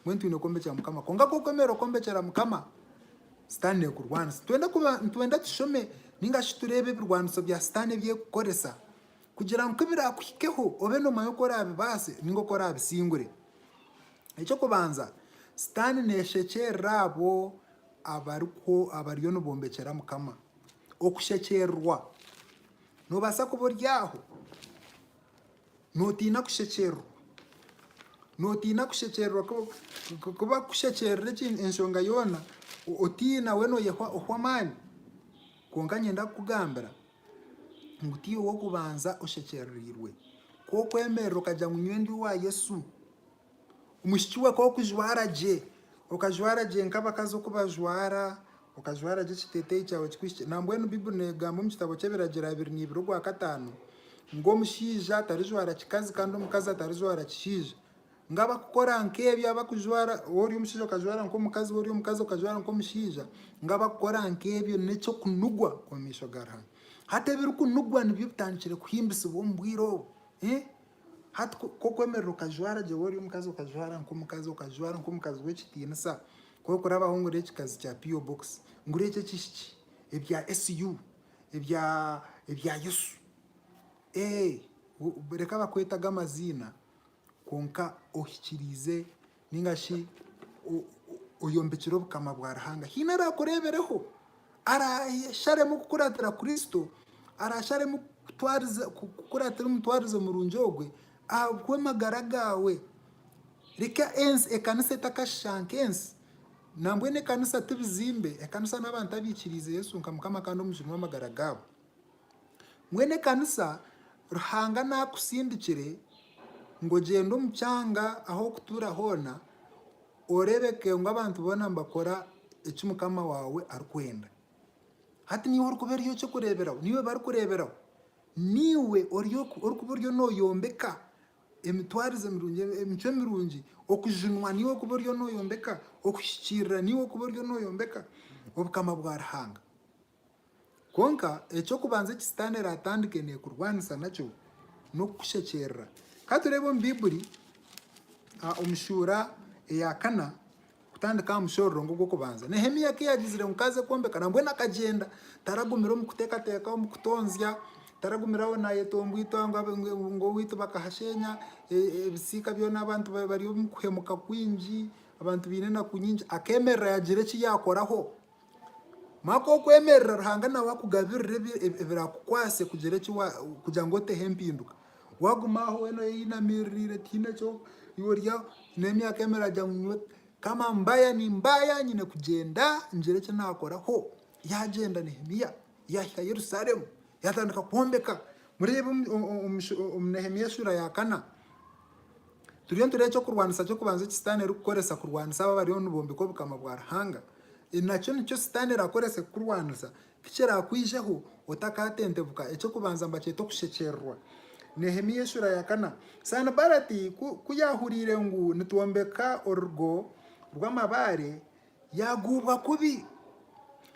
Mbwenu twine kwombekera Mukama. Kwonka ku orikwemerera okwombekera Mukama, Sitaane neekurwanisa. Nitwenda kuba, nitwenda tushome nainga shi tureebe ebirwaniso bya Sitaane ebi arikukoresa Kugira ngu birakuhikeho obe noomanyi oku oraabibaase nainga oku oraabisingure. Eky'okubanza, Sitaane neeshekyeerera abo abariyo nibombekyera Mukama. Okushekyeererwa, noobaasa kuba ori aho nootiina kushekyeererwa. Nootiina kushekyeererwa ku bakushekyeerera enshonga yoona otiina, we nooyehwa ohwa amaani. Kwonka niinyenda kukugambira ngu tiiwe w'okubanza oshekyerereirwe. Ku okwemerera okagira ngu nyowe ndi owa Yesu, omwishiki we ku okujwara gye, okajwara gye nk'abakazi oku bajwara, okajwara gye ekiteeteeyi kyawe kikuhikire. Nambwenu Baiburi neegamba omu kitabo ky'Ebiragiro abiri n'eibiri ogwa kataano, ngu omushaija tarijwara kikazi kandi omukazi atarijwara kishaija. Ngu abakukora nk'ebyo, abakujwara, waaba ori omushaija okajwara nk'omukazi, waaba ori omukazi okajwara nk'omushaija, ngu abakukora nk'ebyo n'eky'okunugwa omu maisho ga Ruhanga. Hati ebirikunugwa nibyo bitandikire kuhimbisibwa omu bwire obu. Hati ku okwemerera okajwara gye, waaba ori omukazi okajwara nk'omukazi, okajwara nk'omukazi w'ekitiinisa, ku orikurabaho ngu ori ekikazi kya PO box, ngu ori eky'ekihiki, ebya SU, ebya ebya Yesu, ee reka bakwete ago amaziina kwonka ohikiriize nainga shi oyombekire obukama bwa Ruhanga. Haine araakureebereho, araasharemu kukuratira Kristo, araasharemu kukuratira omutwarize murungi ogwe ahabw'amagara gaawe. Reka ensi, ekanisa etakashisha nk'ensi. Nambwenu ekanisa ti bizimbe, ekanisa n'abantu abaikiriize Yesu nka Mukama kandi omujuni w'amagara gaabo. Mbwenu ekanisa Ruhanga naakusindikire ngu ogyende omu kyanga ahu orikutuura hoona, oreebeke ngu abantu boona nibakora eki Mukama waawe arikwenda. Hati niiwe orikuba ori eky'okureeberaho, niiwe barikureeberaho. Niiwe orikuba oriyo nooyombeka emitwarize mirungi, emicwe mirungi. Okujunwa niiwe orikuba oriyo nooyombeka, okuhikiirira niiwe orikuba oriyo nooyombeka Obukama bwa Ruhanga. Kwonka, eky'okubanza eki Sitaane araatandike neekurwanisa nakyo n'okukushekyerera. Ka tureebe omu Baibuli omu shuura eya kana, kutandika aha mushororongo ogw'okubanza. Nehemia ku yaagizire ngu kaaze kwombeka, nambwenu akagyenda. Taragumire omu kuteekateeka, omu kutonzya, taragumire aho naayetomboitwa ngu owaitu bakahasheenya, ebisiika byona abantu bari omu kuhemuka kwingi, abantu baine enaku nyingi. Akeemerera yaagira eki yaakoraho Maka okwemerera Ruhanga nawe akugabirire ebirakukwase kugira eki kugira ngu oteho empinduka. Waguma aho wena oyeyinamiririire tihaine eki orya, n'emyaka emwe eragira ngu nyowe kama mbaya nimbaya nyine kugyenda ngire eki naakora. Ho yaagyenda Nehemia yaahika Yerusalemu yaatandika kwombeka. Mureebe omu Nehemia shuura ya kana. Turiyo nitureeba eky'okurwanisa ky'okubanza eki Sitaane erikukoresa kurwanisa abo abariyo nibombeka Obukama bwa Ruhanga. Nakyo nikyo Sitaane eraakorese kukurwanisa. Ti kiraakwijeho otakaatentebuka. Eky'okubanza mbakyeta okushekyererwa. Nehemia eshuura ya kana. Sanibalati ku yaahuriire ngu nitwombeka orugo rw'amabaare, Yaaguubwa kubi,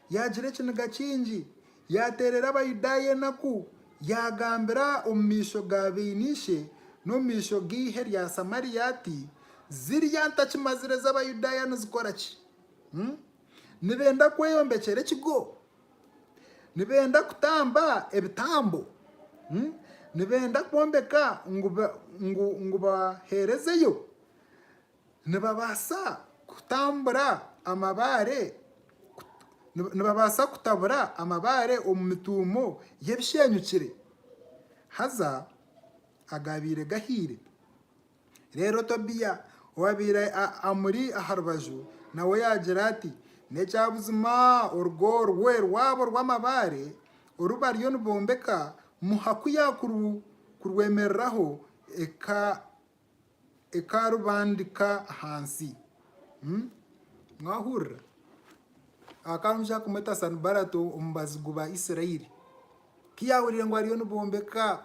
yaagira ekiniga kingi, yaateerera Abayudaaya enaku, yaagambira omu maisho ga baine ishe n'omu maisho g'eihe rya Samaria ati, Zirya ntakimazire z'Abayudaaya nizikora ki? Nibenda kweyombekyera ekigo? Nibenda kutamba ebitambo? Nibenda kwombeka ngu baheerezeyo? Nibabaasa kutambura amabaare, nibabaasa kutabura amabaare omu mituumo y'ebisheenyukire, haza agaabaire gahiire. Reero Tobia owaabaire amuri aha rubaju nawe yaagira ati, N'ekyabuzima orugo orwe rwabo rw'amabaare oru bariyo nibombeka muha ku yaakurwemereraho eka Ekarubandika ahansi. Mwahurira? Hakaba omushija arikumweta Sanibarato omu bazigu ba Isirairi. Ku yaahurire ngu bariyo nibombeka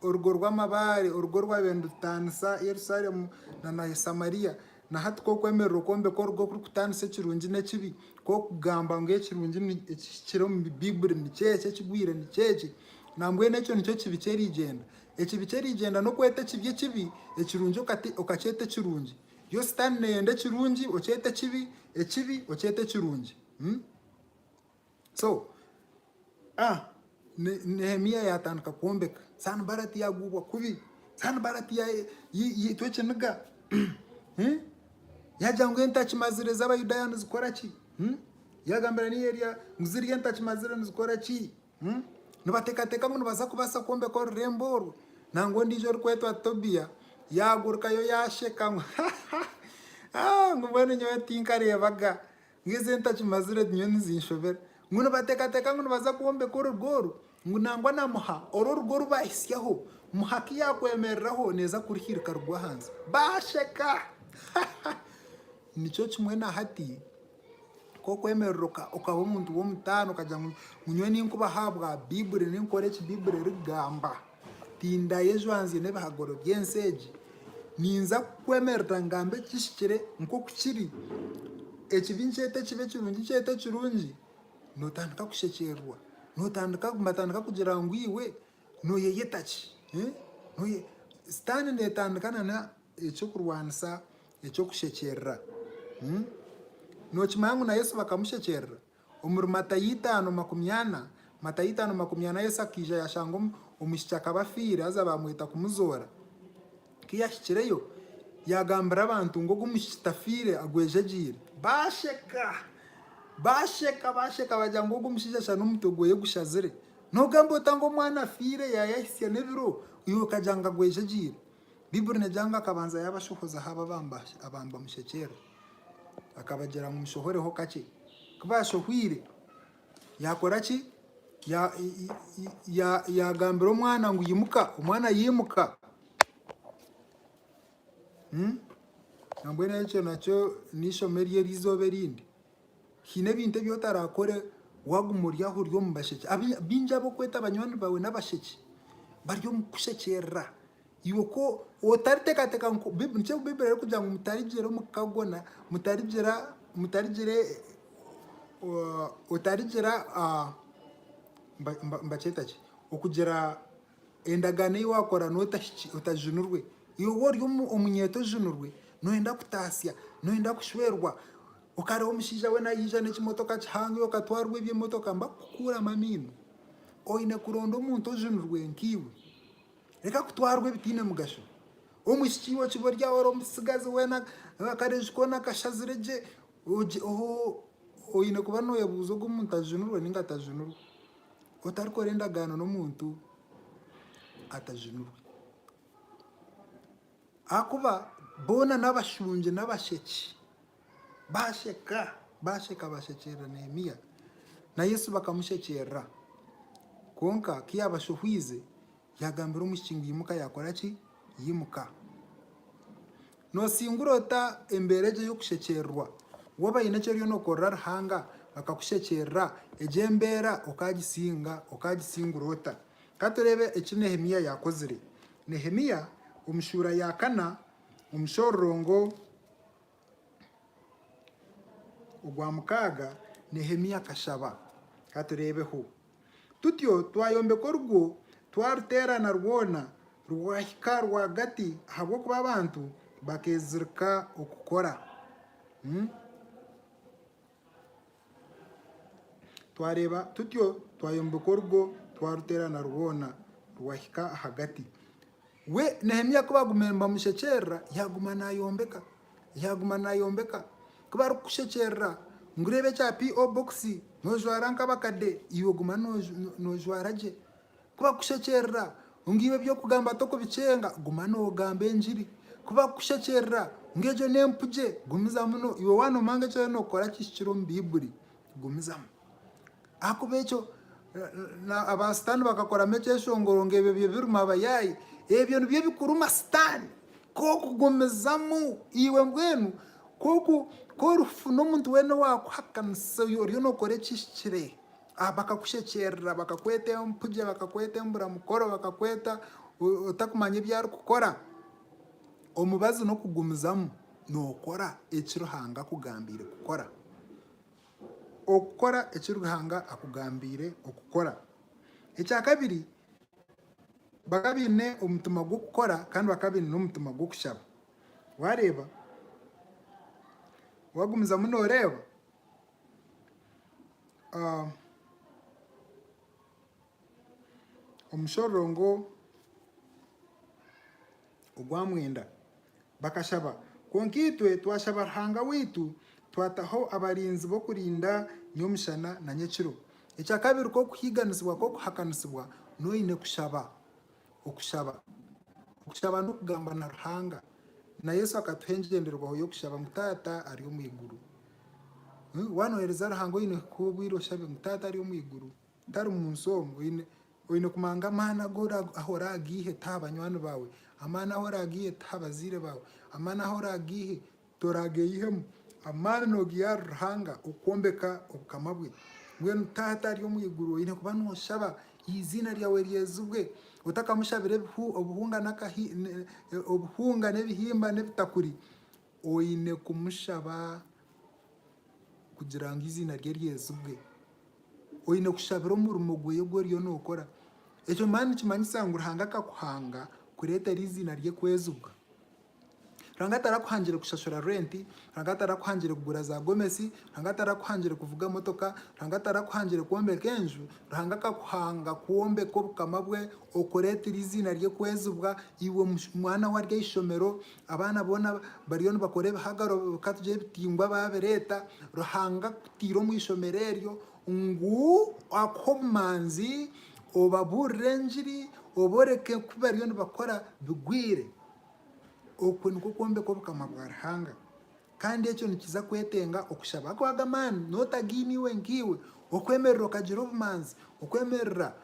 orugo rw'amabaare, orugo orwaabaire nirutaanisa Yerusalemu na Samaria, na hati ku orikwemerera okwombeka orugo orikutaanisa ekirungi n'ekibi, ku orikugamba ngu ekirungi ekihikire omu Baiburi nikyo eki, ekigwire nikyo eki, nambwenu ekyo nikyo kibi ky'erigyenda. Ekibi ky'erigyenda n'okweta ekibi ekibi, ekirungi okakyeta ekirungi. Yo Sitaane neeyenda ekirungi okyete ekibi, ekibi okyete ekirungi. So, a Nehemia yaatandika kwombeka. Sanibarati yaagubwa kubi. Sanibarati yaitwa ekiniga. Yaagira ngu entakimazire z'Abayudaaya nizikora ki? Yaagambira niyo erya ngu zirya entakimazire nizikora ki? Nibateekateeka ngu nibaza kubaasa kwombeka orurembo orwo, nangwa ondiijo orikwetwa Tobia yaagurukayo yaasheka ngu, Ha, ha, ha, ngu mbwenu nyowe tinkareebaga, ngu ezo entachu mazire nyowe nizinshobera. Ngu nibateekateeka ngu nibaza kwombeka orugo orwo, ngu nangwa na muha oru orugo oru baahitsyaho, muha ku yaakwemereraho neeza kuruhirika rugwe ahansi. Baasheka! Ha, ha! Nikyo kimwe na hati. Nk'okwemerera okaba omuntu w'omutaano okagira ngu nyowe ninkubaho ahabwa Baiburi, ninkora eki Baiburi erikugamba, tindayo ejwanzire n'ebihagaro by'ensi egi, ninza kukwemerera ngambe ekihikire nk'oku kiri, ekibi nkyete ekibi, ekirungi nkyete ekirungi, nootandika kushekyererwa, nibatandika kugira ngu iwe nooyeyeta ki? Sitaane neetandika n'eky'okurwanisa Eky'okushekyerera, nookimanya ngu na Yesu bakamushekyerera? Omuri Matayo itaano makumi ana, Matayo itaano makumi ana, Yesu akaija yaashanga omwishiki akaba afiire haza baamweta kumuzoora. Ku yaahikireyo, yaagambira abantu ngu ogu mwishiki tafiire, agwejegyeire. Baasheka! Baasheka! Baasheka baagira ngu ogu omushaija shana omutwe gwe gushazire. Noogamba ota ngu omwana afiire yaayahitsya n'ebiro, iwe okagira ngu agwejegyeire? Baibuli neegira ngu akabanza yaabashohozaho aba nibamushekyeera. Akabagira ngu, Mushohoreho kakye. Ku baashohweire, yaakora ki? Yaagambira omwana ngu, Imuka! Omwana yaimuka. Nambwenu ekyo nakyo n'eishomo ery'eizooba erindi. Haine ebintu ebi otarakore waguma ori aho ori omu basheki. Baingi abu okweta banywani bawe n'abasheki bari omu kukushekyerera. Iwe ku otaritekateka ngu, nikyo ngu Baiburi erikugira ngu mutarigira omu ka gona, mutarigira, mutarigira, otarigira, nibakyeta ki? Okugira. Endagaano ei waakora noota shi otajunirwe? Iwe ori omunyeeto ojunirwe, nooyenda kutaasya, nooyenda kushwerwa, okareeba omushaija we naija n'ekimotoka kihango iwe okatwarwa eby'emotoka mba kukukuuramu amaino? Oine kuronda omuntu ojunirwe nkaiwe. Reka kutwarwa ebitaine mugasho. Omwishiki iwe okiba ori aho ori omutsigazi weena akareju koona kashazire gye, hoo oine kuba nooyebuuza ogu omuntu ajunirwe nainga tajunirwe. Otarikora endagaano n'omuntu atajunirwe. Ahakuba boona n'abashungi n'abasheki. Baasheka, baasheka baashekyerera Neemia. Na Yesu bakamushekyerera. Kwonka ku yaabashohwize, yaagambira omwishiki ngu imuka yaakora ki? Yimuka. Noosingura ota embeera egyo ey'okushekyerirwa? Waaba haine eki oriyo nookorera Ruhanga akakushekyerera, egyo embeera okaagisinga, okaagisingura ota? Ka tureebe eki Nehemia yaakozire. Nehemia omu shuura ya kana omu shororongo ogwa mukaaga, Nehemia akashaba. Ka tureebeho. Tutyo twayombeka orugo, twaruteerana rwona rwahika rwagati ahabw'okuba abantu bakeezirika okukora. Twareeba tutyo twayombeka orugo, twaruteerana rwona rwahika ahagati. We Nehemia ku baagumire nibamushekyerera, yaaguma naayombeka. Yaaguma naayombeka. Ku barikukushekyerera ngu reeba ekya PO box, noojwara nk'abakade, iwe guma noojwara gye. Ku bakukushekyerera ngu iwe eby'okugamba tokubikyenga, guma noogamba engiri. Ku bakukushekyerera ngu egyo n'empugye, gumizamu iwe waanoomanga eki oriyo nookora kihikire omu Baibuli, gumizamu. Ahakuba ekyo aba Sitaane bakakoramu ekyeshongoro ngu ebyo byo biruma abayaayi. Ebyo nibyo bikuruma Sitaane. Ku orikugumizamu iwe mbwenu ku orikufuna omuntu weena owaakuhakanisa oyo oriyo nookora ekihikire, bakakushekyerera, bakakweta empugye, bakakweta emburamukoro, bakakweta otarikumanya ebi arikukora. Omubazi n'okugumizamu nookora eki Ruhanga akugambiire kukora. okukora eki Ruhanga akugambiire okukora. Ekya kabiri, bakaba baine omutima gw'okukora kandi bakaba baine n'omutima gw'okushaba. Waareeba, waagumizamu nooreeba, omushororongo. Ogwa mwenda, bakashaba, kwonka itwe twashaba Ruhanga waitu, twataho abarinzi b'okurinda nyomushana na nyekiro. Ekya kabiri k'okuhiiganisibwa k'okuhakanisibwa n'oine kushaba. Okushaba. Okushaba n'okugamba na Ruhanga. Na Yesu akatuha engyendererwaho y'okushaba ngu Taata ari omu iguru. Waanoheereza Ruhanga oine kuha obwire oshabe ngu Taata ari omu iguru. Ntari mu nsi omu. Oine kumanga amaani agu oragaihe tiha banywani baawe, amaani ahu oragaihe tiha bazaire baawe, amaani ahu oragaihe torageihemu, amaani nogaiha ahari Ruhanga okwombeka obukama bwe. Mbwenu Taata ari omu iguru oine kuba noshaba eiziina ryawe ryezibwe, otakamushabire obuhunga n'ebihimba n'ebitakuri. Oine kumushaba kugira ngu eiziina rye ryezibwe. Oine kushabira omurimo gwe ogu oriyo nookora. Ekyo mbwenu nikimanyisa ngu Ruhanga akakuhanga kureetera eiziina rye kwezibwa. Ruhanga tarakuhangire kushashura rwenti, Ruhanga tarakuhangire kugura zaagomesi, Ruhanga tarakuhangire kuvuga motoka, Ruhanga tarakuhangire kwombeka enju, Ruhanga akakuhanga kwombeka Obukama bwe, okureetera eiziina rye kwezibwa, iwe mwana we ari aha ishomero, Abaana boona bariyo nibakora ebihagaro ka tugire ebitingwa baabireeta Ruhanga akutaire omu ishomero eryo ngu akuhe obumanzi obabuurire engiri obooreke ku bariyo nibakora bigwire. Okwo nikwo kwombeka Obukama bwa Ruhanga. Kandi ekyo nikiza kwetenga okushaba kwago amaani n'otagaine iwe nkaiwe, okwemerera okagira obumanzi, okwemerera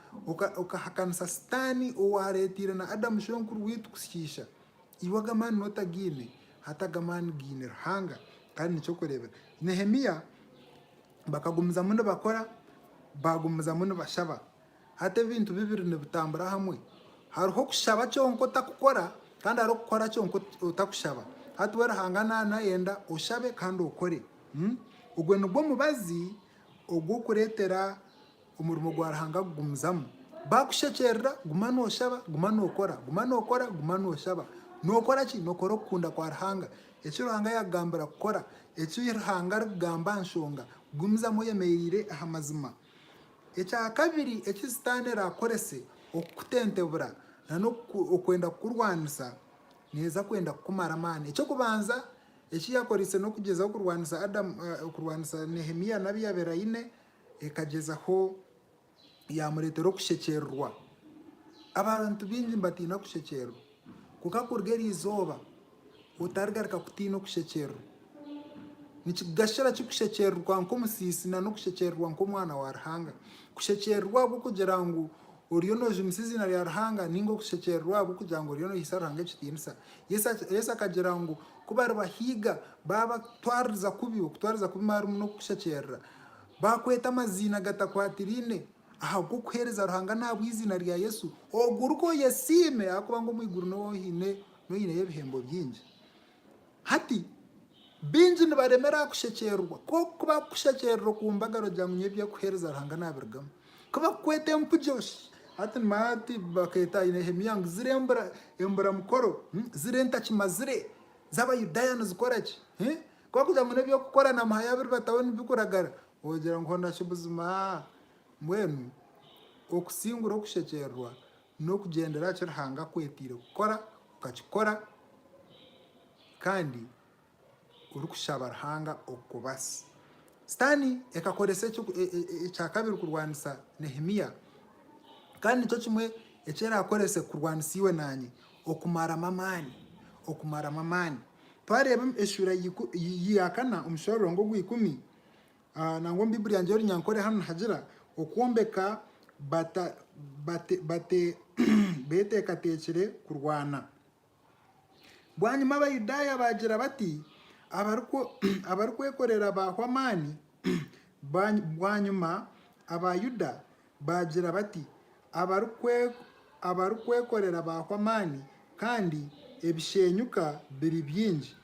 okahakanisa Sitaane owaareeteire na Adamu shwenkuru waitu kushiisha. Iwe ago amaani n'otagaine, hati ago amaani gaine Ruhanga. Kandi nikyo okureebera Nehemia. Bakagumizamu nibakora, baagumizamu nibashaba. Hati ebintu bibiri nibitambura hamwe. Hariho okushaba kyonka otarikukora, kandi hariho okukora kyonka otarikushaba. Hati we Ruhanga naayenda oshabe kandi okore. Ogwo nigwo mubazi ogw'okureetera Omurimo gwa Ruhanga gugumizamu. Baakushekyerera, guma nooshaba, guma nookora, guma nookora, guma nooshaba. Nookora ki? Nookora okukunda kwa Ruhanga, eki Ruhanga yaakugambira kukora, eki Ruhanga arikugamba aha nshonga. Gumizamu oyemereire aha mazima. Ekya kabiri eki Sitaane araakorese okukutentebura n'okwenda kukurwanisa, neeza kwenda kukumara amaani. Eky'okubanza eki yaakoreise n'okugyezaho kurwanisa Adamu, kurwanisa Nehemia n'abu yaabaire aine, ekagyezaho yaamureetera okushekyeererwa. Abantu baingi nibatiina kushekyeererwa. Kwonka kuruga eryo izooba otarigaruka kutiina okushekyeererwa. Nikigashira ki kushekyeererwa nk'omusiisi nari okushekyeererwa nk'omwana wa Ruhanga? Kushekyeererwa ahabw'okugira ngu oriyo noojumisa eiziina rya Ruhanga nainga okushekyeererwa ahabw'okugira ngu oriyo noihiisa Ruhanga ekitiinisa? Yesu akagira ngu ku baribahiga baabatwaririza kubi, okutwariza kubi harimu n'okukushekyerera. Baakweta amaziina agatakwatiraine ahabw'okuheereza Ruhanga n'ahabw'eiziina rya Yesu, ogwo orikwo oyesiime ahakuba ngu omu iguru niho oine noineyo ebihembo bingi. Hati, baingi nibaremera aha kushekyeererwa. Ku ku bakukushekyeerera oku mbaga aragira ngu nyowe eby'okuheereza Ruhanga naabirugamu. Ku bakukweta empugyo shi. Hati nimanya ati bakeeta aha Nehemia ngu ziri embura emburamukoro, ziri entakimazire z'Abayudaaya nizikora ki? Ku orikuza ngu n'eby'okukora na Muhaya biribataho nibikuragara, ogira ngu hona shi buzima? Mbwenu okusingura okushekyererwa n'okugyendera aha ki Ruhanga akwetaire kukora, okakikora kandi orikushaba Ruhanga okukubaase. Sitaane ekakoresa ekya kabiri kurwanisa Nehemia, kandi nikyo kimwe eki eraakorese kurwanisa iwe naanye, okumaramu amaani, okumaramu amaani. Twareeba eshuura ya kana omushororongo ogwa ikumi, nangwa omu Baiburi yangye y'Orunyankore hanu nihagira okwombeka beteekateekire kurwana. Bwanyima Abayudaaya baagira bati, abarikwekorera baahwa amaani, bwanyima Abayuda Baagira bati, Abarikwekorera baahwa amaani, kandi ebisheenyuka biri bingi.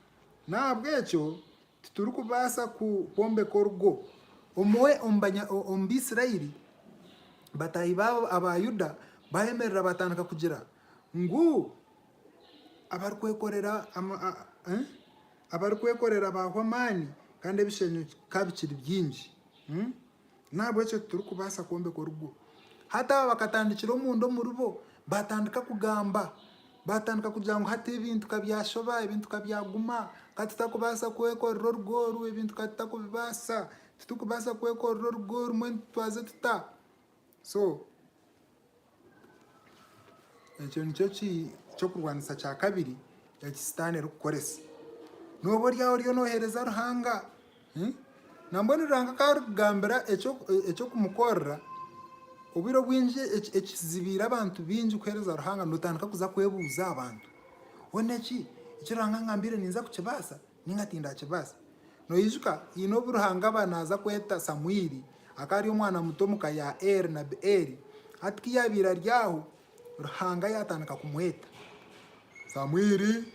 N'ahabw'ekyo titurikubaasa kwombeka orugo. Omwe omu Baisraeli, bataahi baabo aba Yuda, baayemerera baatandika kugira ngu, Abarikwekorera baahwa amaani, kandi ebisheenyuka bikiri bingi. N'ahabw'ekyo titurikubaasa kwombeka orugo. Hati aba bakatandikira omunda omuri bo, baatandika kugamba, baatandika kugira ngu hati ebintu ka byashoba, ebintu ka byaguma, ka tutakubaasa kwekorera orugo oru, ebintu ka tutakubibaasa, titurikubaasa kwekorera orugo oru mbwenu twaze tuta? So. Ekyo nikyo kyokurwanisa kya kabiri eki sitaane erikukoresa. Noba oryaho oriyo noheereza Ruhanga, nambwenu Ruhanga ku arikugambira eky'okumukorera, obwire obwingi ekizibiire abantu baingi kuheereza Ruhanga notandika kuza kwebuuza aha bantu, Hoona eki, eki Ruhanga angambiire ninza kukibaasa? Ninga tindaakibaasa. Noijuka? Haine obu Ruhanga aba naaza kweta Samuiri, akaba ari omwana muto omu ka ya Eli, Nabi Eli. Hati ku yaabaire ari aho, Ruhanga yaatandika kumweta, Samuiri!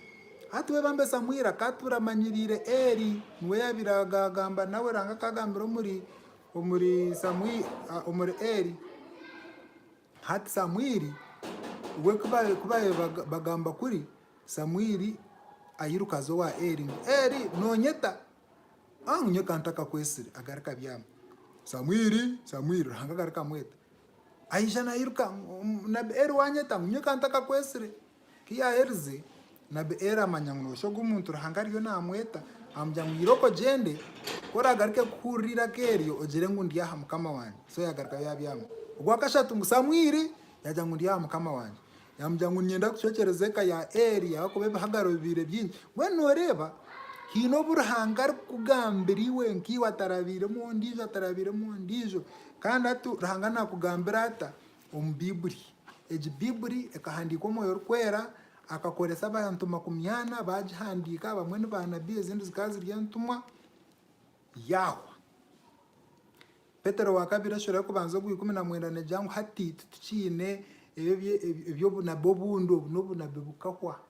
Hati we bambe Samuiri akaatuura amanyiriire Eli, niwe yaabaire agagamba nawe, Ruhanga akaagambira omuri, omuri Samuiri, omuri Eli. Hati Samuiri we ku baabaire bagamba kuri, Samuiri airuka aza owa Eri ngu, Eri, nonyeta? A ngu, Nyeta ntakakwesire. Agarika abyama. Samuiri! Samuiri! Ruhanga agarika amweta. Aija nairuka, Omunabi Eri, wanyeta? Ngu, Nyeta ntakakwesire. Ku yaaherize, nabi Eli amanya ngu nooshi ogu muntu Ruhanga ariyo naamweta, amugira ngu, Ira okogyende, ku oraagaruke kuhurira eiraka eryo, ogire ngu, Ndi aha, mukama wangye. So yaagaruka yaabyama. Ogwa kashatu ngu Samwiri yaagira ngu, Ndi aha, mukama wangye. Yaamugira ngu, Niinyenda kucwekyereza eka ya Eli ahakuba ebihagaro bibaire bingi. Mbwenu nooreeba, haine obu Ruhanga arikukugambira iwe nkaiwe atarabairemu ondiijo, atarabairemu ondiijo. Kandi hati Ruhanga naakugambira ata? omu Baibuli. Egi Baibuli ekahandiikwa Omwoyo Orikwera akakoresa abantu makumi ana baagihandiika, abamwe ni baanabbi ezindi zikaba ziri entumwa. Yaahwa. Petero wa kabiri eshura y'okubanza ogwa ikumi na mwenda neegira ngu hati titukiine eby'obunabbi obundi, obu n'obunabbi bukahwa.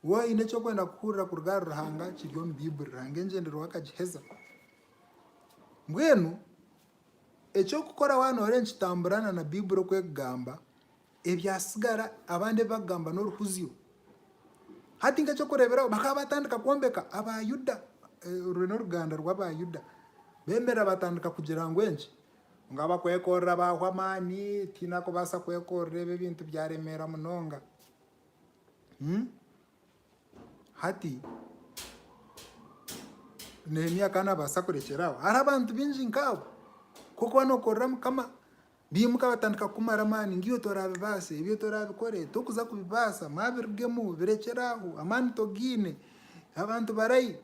Waaba oine eki orikwenda kuhurira kuruga ahari Ruhanga kiri omu Baiburi, Ruhanga engyendererwa akagiheza. Mbwenu eki orikukora waaba nooreeba nikitambura na Baiburi oku erikugamba, ebyatsigara abandi ebi barikugamba n'oruhuzyo. Hati nk'eky'okureeberaho bakaba baatandika kwombeka, Abaayuda, oru n'oruganda rw'Abaayuda, beemerera baatandika kugira ngu enki, ngu abakwekorera baahwa amaani, tihaine arikubaasa kwekorera, ebi ebintu byaremeera munonga. Hati Nehemia akaba nabaasa kurekyera aho. Hariho abantu baingi nk'abo. Ku orikuba nookorera Mukama, baimuka batandika kukumara amaani ngu iwe toraabibaasa, ebyo toraabikore, torikuza kubibaasa, mwabirugemu, birekyere aho, amaani togaine, abantu barai.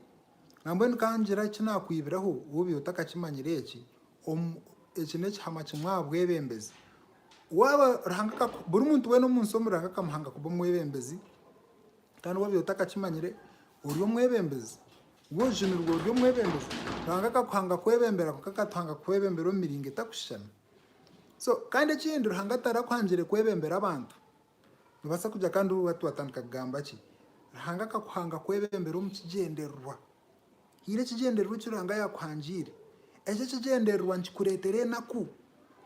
Nambwenu ka ngira eki naakwibiraho, woobiire otakakimanyire eki, Eki n'ekihama kimwe aha bwebembezi. Waaba Ruhanga aka, buri muntu weena omu nsi omu Ruhanga akamuhanga kuba omwebembezi, kandi woobiire otakakimanyire, ori omwebembezi. Iwe ojunirwe ori omwebembezi. Ruhanga akakuhanga kwebembera kwonka akatuhanga kwebembera omu miringo etakushushana. So kandi ekindi Ruhanga tarakuhangire kwebembera abantu. Noobaasa kugira kandi waaba waatandika kugamba ki? Ruhanga akakuhanga kwebembera omu kigyendererwa. Haine ekigyendererwa eki Ruhanga yaakuhangiire. Ekyo ekigyendererwa nikikureetera enaku.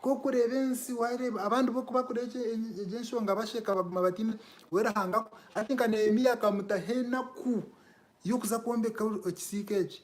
Ku orikureeba ensi, waareeba abandi bo ku barikureeba egyo enshonga basheka baguma bataine, we Ruhanga, hati nka Neemia akamutaho enaku y'okuza kwombeka ekisiika eki.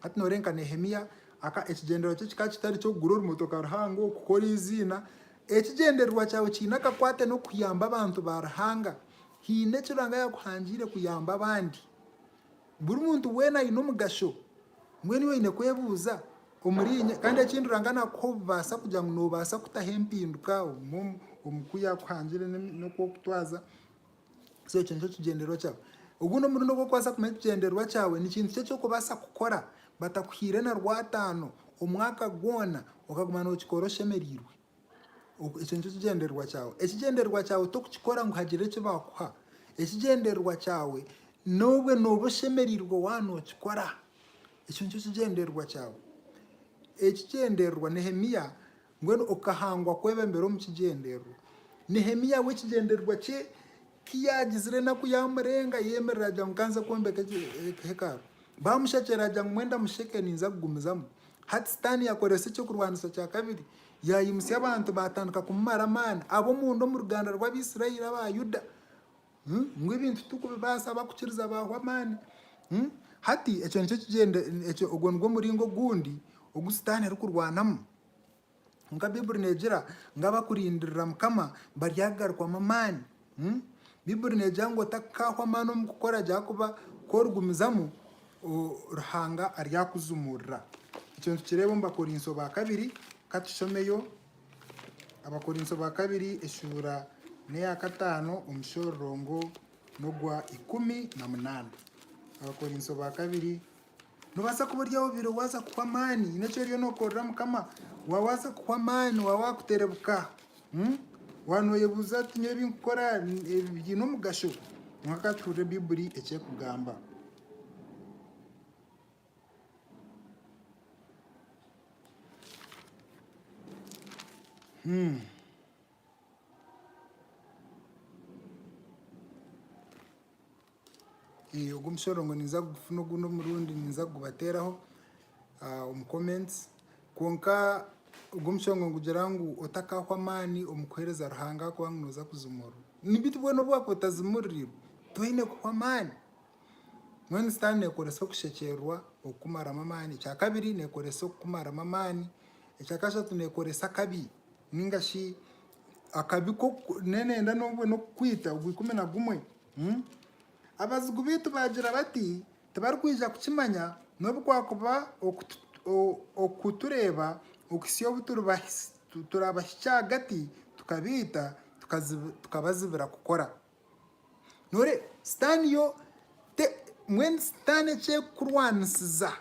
Hati nooreeba nka Nehemia, aka ekigyendererwa kye kikaba kitari ky'okugura orumotoka ruhango, kukora eiziina. Ekigyendererwa kyawe kiine akakwate n'okuyamba abantu ba Ruhanga. Haine eki Ruhanga yaakuhangiire kuyamba abandi. Buri muntu weena aine omugasho. Mbwenu iwe oine kwebuuza omuriinye. Kandi ekindi Ruhanga naakuha obubaasa kugira ngu noobaasa kutaho empinduka omu ku yaakuhangiire n'oku orikutwaza. So ekyo nikyo kigyendererwa kyawe. Ogundi omurundi ogu orikubaasa kumanya ekigyendererwa kyawe, ni kintu ki eki orikubaasa kukora batakuhaire na rwataano omwaka gwona okaguma nookikora oshemereirwe. Ekyo nikyo kigyendererwa kyawe. Ekigyendererwa kyawe torikukikora ngu hagire eki baakuha. Ekigyendererwa kyawe noobwe nooba oshemereirwe waaba nookikora. Ekyo nikyo kigyendererwa kyawe. Ekigyendererwa Nehemia Mbwenu okahangwa kwebembera omu kigyendererwa. Nehemiya we ekigyendererwa kye ki yaagizire enaku yaamurenga, yeemerera agira ngu kanze kwombeka hekalu. Baamushakyera agira ngu mwenda musheke ninza kugumizamu. Hati Sitaane yakoresa ekyokurwanisa kya kabiri, yaayimutsya abantu baatandika kumumara amaani, ab'omunda omu ruganda rw'Abaisraeli aba Yuda. Ngu ebintu titukubibaasa, abakukiriza baahwa amaani. Hati ekyo nikyo kigyende, ekyo, ogwo nigwo muringo ogundi ogu Sitaane arikurwanamu. Kwonka Baiburi neegira ngu abakurindirira Mukama baryagarukwamu amaani. Baiburi neegira ngu otakaahwa amaani omu kukora gye ahakuba ku origumizamu, Ruhanga aryakujumurira. Ekyo nitukireeba omu Bakorinso ba kabiri. Ka tushomeyo. Abakorinso ba kabiri eshuura neya kataano omushororongo nogwa ikumi na munaana. Abakorinso ba kabiri Nobaasa kuba ori aha obiire waaza kuhwa amaani haine eki oriyo nokorera mukama waba waaza kuhwa amaani waba wakuterebuka waba noyebuuza oti nyowe ebi nkukora biine omugasho? Kwonka ka tuhurire baiburi eki ekugamba. Ogu omushororongo ninza kugufuna ogundi omurundi ninza kugubateeraho omu comments. Kwonka ogu omushororongo nigugira ngu otakahwa amaani omu kuheereza Ruhanga ahakuba ngu nooza kuzimurwa. Ni bwenu obu waakuba otazimuriirwe toine kuhwa amaani. Mbwenu Sitaane neekoresa okushekyererwa okukumaramu amaani. Ekya kabiri neekoresa okukumaramu amaani. Ekya kashatu neekoresa akabi nainga shi akabi k'oku n'enenda n'obwe n'okukwita ogwa ikumi na gumwe. Abazigu baitu baagira bati, tibarikwija kukimanya n'obu kwakuba okutureeba okuhitsya obu turaabahitsya ahagati tukabaita tukabazibira kukora. Nooreeba? Sitaane yo, mbwenu Sitaane eki erikurwanisiza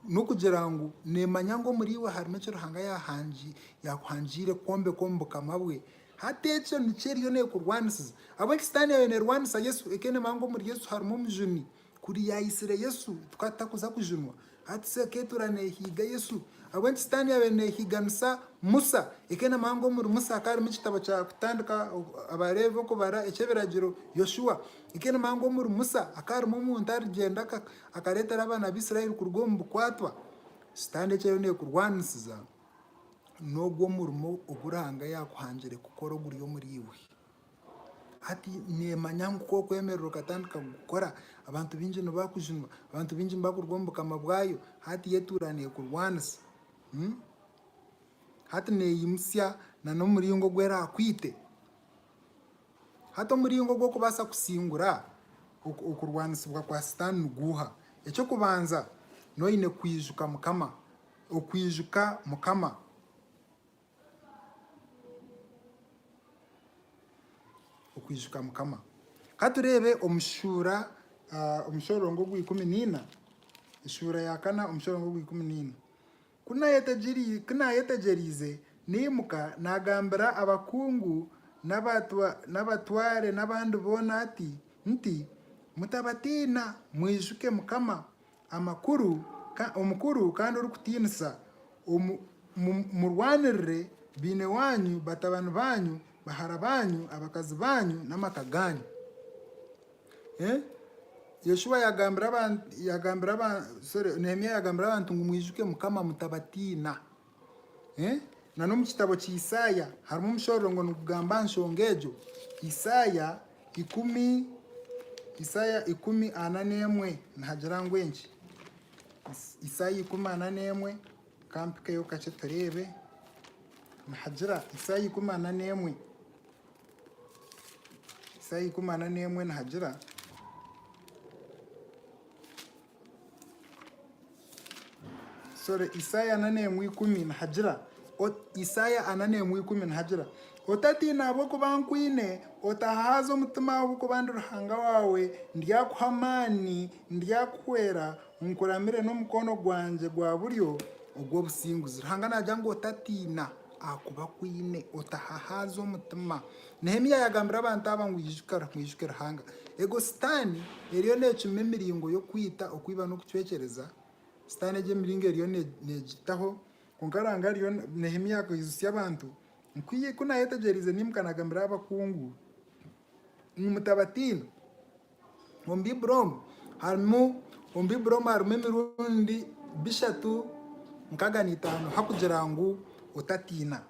n'okugira ngu neemanya ngu omuriiwe harimu eki Ruhanga yaakuhangiire kwombeka omu Bukama bwe. Hati ekyo nikyo eriyo neekurwanisiza. Ahabw'enki Sitaane yaabaire neerwanisa Yesu? Ekyo neemanya ngu omuri Yesu harimu omujuni. Kuri yayitsire Yesu tukaba tutakuza kujunwa. Hati si eka etura nehiiga Yesu. Ahabw'enki Sitaani yabire nehiiganisa Musa? Eke na muhango omuri Musa hakaba harimu ekitabo kya kutandika Abaleevi, Okubara, Eky'ebiragiro, Yoshua. Eke na muhango omuri Musa hakaba harimu omuntu arigyenda akareetera abaana ba Israeli kuruga omu bukwatwa. Sitaani eki eriyo nekurwanisiza n'ogwo murimo ogu Ruhanga yakuhangire kukora oguri omuri iwe. Hati neemanya ngu ku okwemerera okatandika kukora, abantu baingi nibakujunwa, abantu baingi nibakuruga omu Bukama bwayo. Hati y'etuura neekurwanisa. Hati neeyimutsya n'omuringo ogu eraakwite. Hati omuringo gw'okubaasa kusingura okurwanisibwa kwa Sitaane niguuha? Eky'okubanza, noba oine kwijuka Mukama, okwijuka Mukama. Okwijuka Mukama. Ka tureebe omu shuura omushorongo ogwa ikumi naina, eshuura ya kana omushorongo ogwa ikumi naina. Ku naayetegyereize, naimuka naagambira abakungu n'abatware n'abandi boona ati, nti, Mutabatiina, mwijuke Mukama, Amakuru, Omukuru kandi orikutiinisa omu murwanirire baine waanyu, batabani baanyu, bahara baanyu, abakazi baanyu, n'amaka gaanyu. Nehemia yagambira abantu ngu, Mwijuke Mukama, mutabatiina. N'omu kitabo kya Isaaya harimu omushororongo nigugamba aha nshonga egyo. Isaaya ikumi ana n'emwe nihagira ngu enki? Isaaya ikumi ana n'emwe, ka mpikeyo kakye tureebe. Nihagira, Isaaya ikumi ana n'emwe, Isaaya ikumi ana n'emwe nihagira. Isaaya ana n'emwe ikumi nihagira ngu, Otatiina ahabw'okuba nkwine, otahahaaza omutima ahabw'okuba ndi Ruhanga waawe, ndyakuha amaani, ndyakuhwera, nkuramire n'omukono gwangye gwa buryo ogw'obusinguzi. Ruhanga naagira ngu otatiina. Ahakuba ku oine otahahaaza omutima. Nehemia yagambira abantu aba ngu, Ijuka, mwijuke Ruhanga. Ego, Sitaane eriyo neecuma emiringo y'okwita, okwiba n'okucwekyereza. Sitaane egi emiringo eriyo neegitaho. Kwonka Ruhanga ariyo, Nehemia akaijutsya abantu ngu, Ku naayetegyereize naimuka naagambira abakungu ngu, Mutabatiina. Omu Baiburi omu harimu omu Baiburi omu harimu emirundi bishatu nkaga n'itaano hakugira ngu otatiina.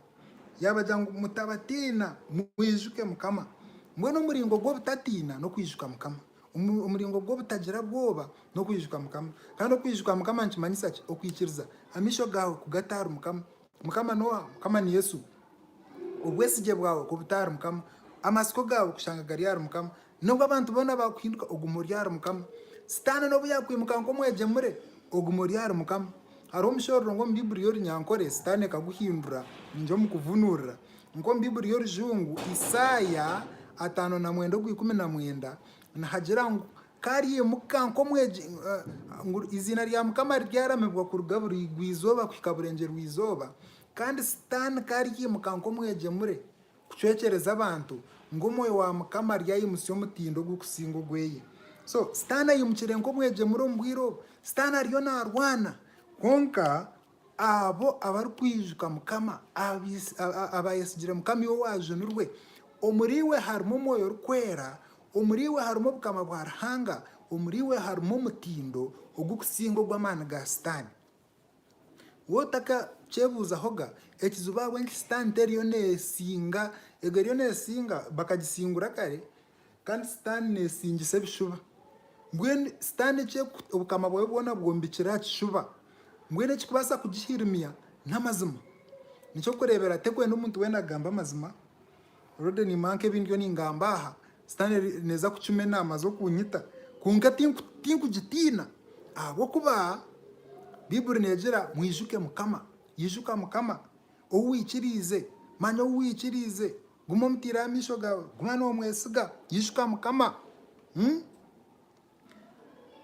Yaabagira ngu mutabatiina mwijuke Mukama. Mbwenu omuringo gw'obutatiina n'okwijuka Mukama. Omuringo gw'obutagira bwoba n'okwijuka Mukama. Kandi okwijuka Mukama nikimanyisa ki? Okwikiriza amaisho gaawe kugata ahari Mukama. Mukama noha? Mukama ni Yesu. Obwesigye bwawe ku buta ahari Mukama, amatsiko gaawe kushanga gari ahari Mukama, n'obu abantu boona baakuhinduka, ogume ori ahari Mukama. Sitaane n'obu yaakwimuka nk'omwegyemure, ogume ori ahari Mukama. Hariho omushororo ngu omu Baiburi y'Orunyankore, Sitaane ekaguhindura, ningye omu kuvunuurira. Nka omu Baiburi y'Orujungu, Isaaya ataano na mwenda ogwa ikumi na mwenda, nihagira ngu, Karyemuka nk'omwegi ngu eiziina rya Mukama riryaramibwa kuruga buraigwa-izooba kuhika burengyeru-izooba, kandi Sitaane karyemuka nk'omwegyemure kucwekyereza abantu, ngu Omwoyo wa Mukama aryayimutsya omutindo ogurikusinga ogweye. So, Sitaane aimukire nk'omwegyemure omu bwire obu. Sitaane ariyo naarwana. Kwonka, Abo abarikwijuka Mukama, Abayesigire Mukama iwe owaajunirwe, Omuri iwe harimu Omwoyo Orikwera, Omuri iwe harimu Obukama bwa Ruhanga, Omuri iwe harimu omutindo ogurikusinga ogw'amaani ga Sitaane. Waaba otakakyebuuzahoga, ekizibu ahabw'enki Sitaane teriyo neesinga, ego eriyo neesinga bakagisingura kare, Kandi Sitaane neesingisa ebishuba. Mbwenu Sitaane eki obukama bwayo bwona bwombekire aha kishuba, mbwenu ekirikubaasa kugihirimya n'amazima. N'eky'okureebera, terikwenda omuntu weena kugamba amazima. Rode niimuha nk'ebi ndiyo ningamba aha, Sitaane neeza kukimya enaama ze okunyita, kwonka tinkugitiina. Ahabw'okuba Baiburi neegira, Mwijuke Mukama. Ijuka Mukama, ou waikiriize, manya ou waikiriize. Guma omutaireho amaisho gaawe. Guma noomwesiga. Ijuka Mukama.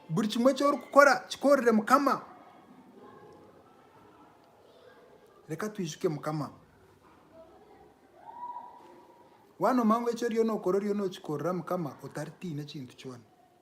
Buri kimwe eki orikukora kikoorere Mukama. Reka twijuke Mukama. Waanooma ngu eki oriyo nookora oriyo nookikorera Mukama otaritiine kintu kyona.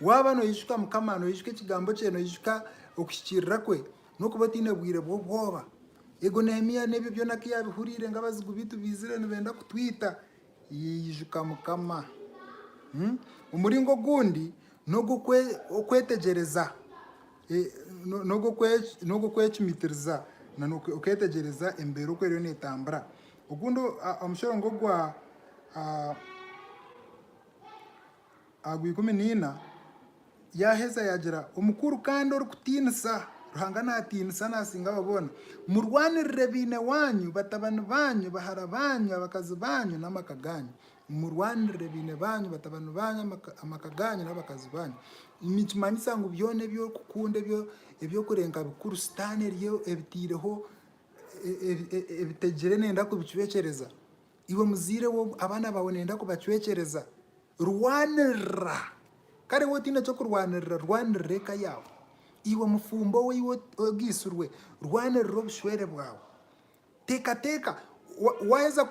Waaba noijuka Mukama, noijuka ekigambo kye, noijuka okuhikiirira kwe, n'okuba otaine bwire bw'obwoba. Eego Nehemia n'ebyo byona ku yaabihuriire ngu abazigu baitu baizire nibenda kutwita, yaijuka Mukama. Omuringo ogundi n'ogw'okwetegyereza, n'ogw'okwecumitiriza, okeetegyereza embeera oku eriyo neetambura. Ogundi omushoro ng'ogwa. Agwo ikumi na ina, yaaheza yaagira, Omukuru kandi orikutiinisa, Ruhanga naatiinisa naasinga abo boona, murwanirire baine waanyu, batabani baanyu, bahara baanyu, abakazi baanyu, n'amaka gaanyu. Murwanirire baine baanyu, batabani baanyu, amaka gaanyu, n'abakazi baanyu. Nikimanyisa ngu byona ebi orikukunda ebi orikureeba bikuru, Sitaane ebitaireho ebitegire neeyenda kubicwekyereza. Iwe muzaire we obu abaana baawe nibenda kubacwekyereza, rwanirira. Kare waaba otaine ky'okurwanirira, rwanirira eka yaawe. Iwe mufumbo we iwe ogaitsirwe, rwanirira obushwere bwawe. Teekateeka, waaheza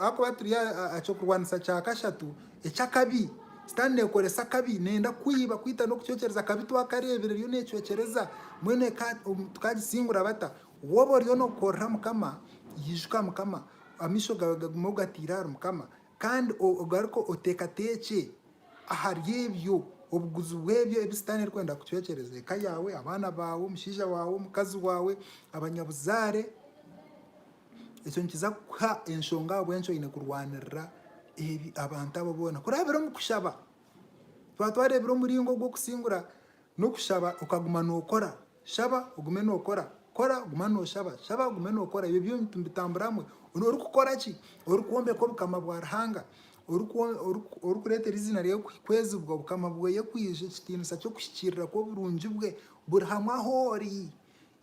ahakuba turi aha kyokurwanisa kya kashatu eky'akabi, Sitaane neekoresa akabi, neeyenda kukwiba, kwita n'okucwekyereza. Akabi twakareebire eriyo neecwekyereza, mbwenu eka tukaagitsingura bata? Waaba oriyo nookorera Mukama, ijuka Mukama. Amaisho gaawe gagume ogataire ahari Mukama, kandi ogaruke oteekateekye ahari ebyo, obuguzi bw'ebyo ebi Sitaane arikwenda kucwekyereza eka yaawe, abaana baawe, omushaija waawe, omukazi waawe, abanyabuzaare. Ekyo nikiza kukuha enshonga ahabw'enki oine kurwanirira ebi abantu abo boona. Kurabira omu kushaba. Twaba twareebire omuringo gw'okusingura n'okushaba okaguma nookora Shaba ogume nokora, kora guma noshaba, shaba ogume nokora ebyo byona nibitambura hamwe. Orikukora ki? Orikwombeka obukama bwa Ruhanga, orikureetera eiziina rye kwezibwa, obukama bwe kwija, ekitiinisa ky'okuhikiirira kw'oburungi bwe buri hamwe ahu ori.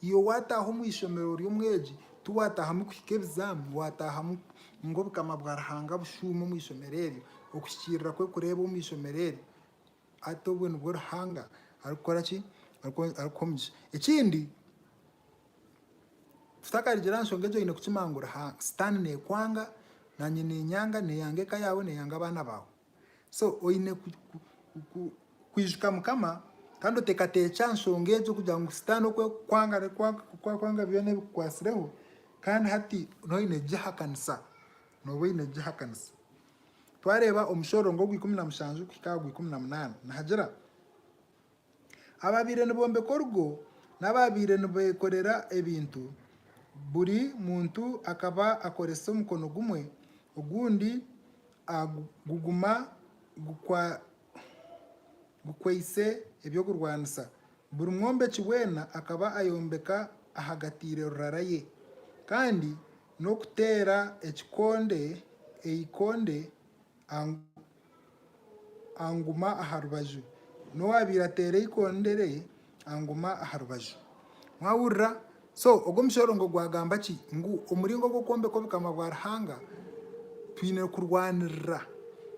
Iwe wataaha omu ishomero ori omwegi, tiwataahamu kuhika ebizaami, wataahamu ngu obukama bwa Ruhanga bushuume omu ishomero eryo, okuhikiirira kwe kureebwe omu ishomero eryo. Ati obwo nibwo Ruhanga arikukora ki? Arikuha omugisha. Ekindi, tutakarugiire aha nshonga egyo oine kukimanya ngu Sitaane neekwanga, naanye neenyanga, neeyanga eka yaawe, neeyanga abaana baawe. So oine kwijuka Mukama kandi oteekateekye aha nshonga egyo kugira ngu Sitaane oku arikukwanga oku arikwanga byona ebikukwatsireho, kandi hati nooba oine kugihakanisa, nooba oine kugihakanisa. Twareeba omushororongo ogw'ikumi na mushanju kuhika aha gw'ikumi na munaana nihagira, Abaabaire nibombeka orugo n'abaabaire nibeekorera ebintu, buri muntu akaba akoresa omukono gumwe, ogundi guguma gukwaitse eby'okurwanisa. Buri mwombeki weena akaba ayombeka ahagatiire rurara ye, kandi N'okuteera ekikonde eikonde anguma aha rubaju. N'owaabaire ateera eikonde rye anguma aha rubaju. Mwahurira? So, ogwo omushororongo gwagamba ki? Ngu omuringo ogw'okwombeka Obukama bwa Ruhanga twine kurwanirira.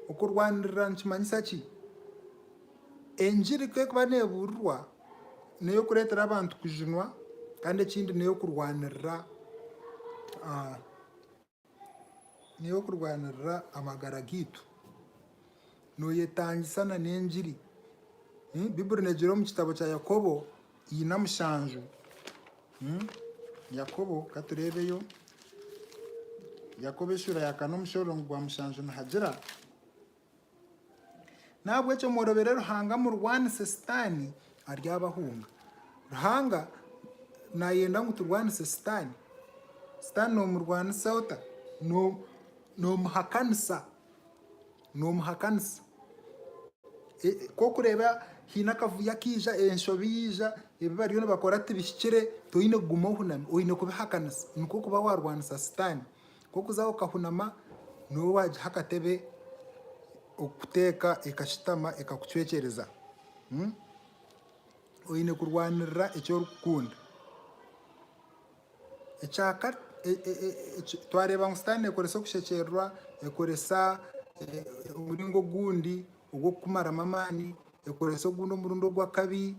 Okurwanirira nikimanyisa ki? Engiri ku erikuba neebuurirwa, n'ey'okureetera abantu kujunwa kandi ekindi n'ey'okurwanirira n'ey'okurwanirira amagara gaitu. Nooyetangisa na n'engiri. Baiburi neegira omu kitabo kya Yakobo ina mushanju. Yakobo ka tureebeyo. Yakobo eshuura ya kana omushororongo gwa mushanju nihagira. N'ahabw'ekyo mworobere Ruhanga murwanise Sitaane aryabahunga. Ruhanga naayenda ngu turwanise Sitaane. Sitaane noomurwanisa ota? Noomuhakanisa. Noomuhakanisa. Ku orikureeba haine akavuyo akaija, enshobi yaija, ebi bariyo nibakora tibihikire, toine kuguma ohunami, oine kubihakanisa. Nikwo kuba waarwanisa Sitaane. K'okuza okahunama nooba waagiha akatebe okukuteeka ekashutama ekakucwekyereza. Oine kurwanirira eki orikukunda. Twareeba ngu sitaane neekoresa okushekyererwa, ekoresa omuringo ogundi ogw'okukumaramu amaani, ekoresa ogundi omurundi ogw'akabi.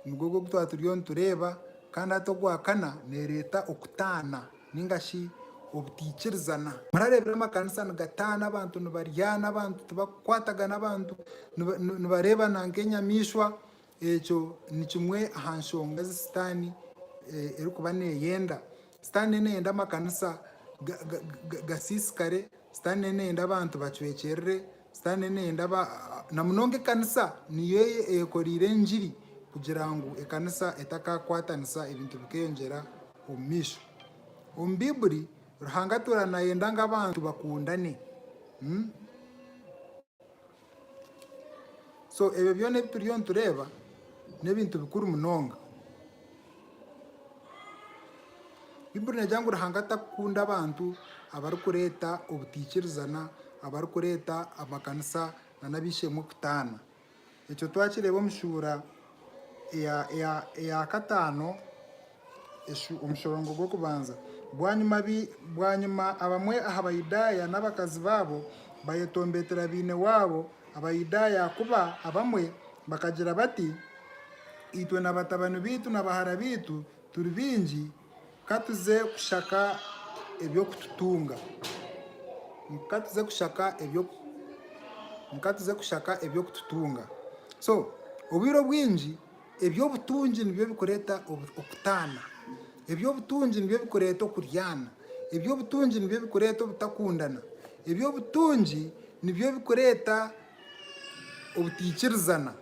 Omugogo ogu twaba turiyo nitureeba, kandi hati ogwa kana neereeta okutaana nainga shi obutaikirizana. Murareebire amakanisa nigataana, abantu nibaryana, abantu tibarikukwatagana, abantu nibareebana nk'enyamaishwa. Ekyo ni kimwe aha nshonga ezi Sitaane erikuba neeyenda. Sitaane nayo neeyenda amakanisa gasiisikare, Sitaane nayo neeyenda abantu bacwekyerere, Sitaane neeyenda ba, na munonga ekanisa niyo ei eyekoreire engiri kugira ngu ekanisa etakakwatanisa ebintu bikeyongyera omu maisho. Omu Baibuli, Ruhanga atuura naayenda ngu abantu bakundane. Hmm? So ebyo byona ebi turiyo nitureeba n'ebintu bikuru munonga. Baibuli neegira ngu Ruhanga tarikukunda abantu abarikureeta obutaikirizana, abarikureeta amakanisa nana ab'eishe-emwe kutaana. Ekyo twakireeba omu shuura eya kataano omushororongo gw'okubanza. Bwanyima abamwe aha Bayudaaya n'abakazi baabo bayetombeetera baine waabo. Abayudaaya ahakuba abamwe bakagira bati, Itwe na batabani baitu na bahara baitu turi baingi, ka tuze kushaka eby'okututunga. Ka tuze kushaka eby'oku, ka tuze kushaka eby'okututunga. So, obwire obwingi Eby'obutungi nibyo bikureeta okutaana. Eby'obutungi nibyo bikureeta okuryaana. Eby'obutungi nibyo bikureeta obutakundana. Eby'obutungi nibyo bikureeta obutaikirizana.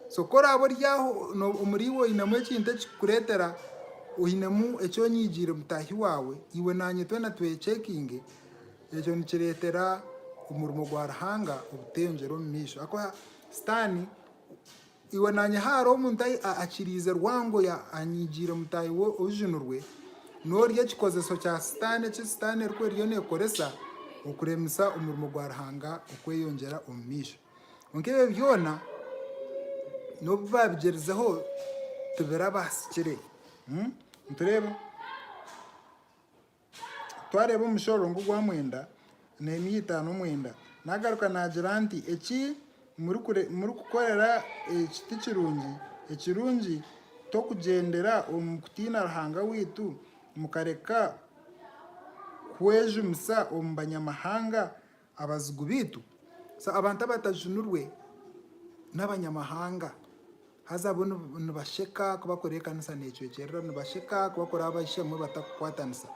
So ku oraabe ori aho omuriiwe oinemu ekintu ekikukureetera, oinemu eki onyigiire mutaahi waawe, iwe naanye twena twekyeinge, ekyo nikireetera omurimo gwa Ruhanga obuteyongyera omu maisho ahakuba sitaani Iwe naanye haaro omuntu akiriize rwango ya anyigiire mutaahi we ojunurwe, noori ekikozeso kya sitaane eki sitaane eriku eriyo nekoresa okuremisa omurimo gwa Ruhanga okweyongyera omu maisho. Kwonka ebyo byoona nobu babigyerizeho tibirabahasikire. Nitureeba? twareeba omushoro ngu gwa mwenda neemia itaano mwenda. Naagaruka naagira nti eki murikukorera eki ti kirungi. Ekirungi tokugyendera omu kutiina Ruhanga waitu, mukareka kwejumisa omu banyamahanga Abazigu baitu, so abantu abatajunirwe n'abanyamahanga, haza bo nibasheka ku bakora ekanisa necwekyerera, nibasheka ku bakora abaishamwe batakukwatanisa.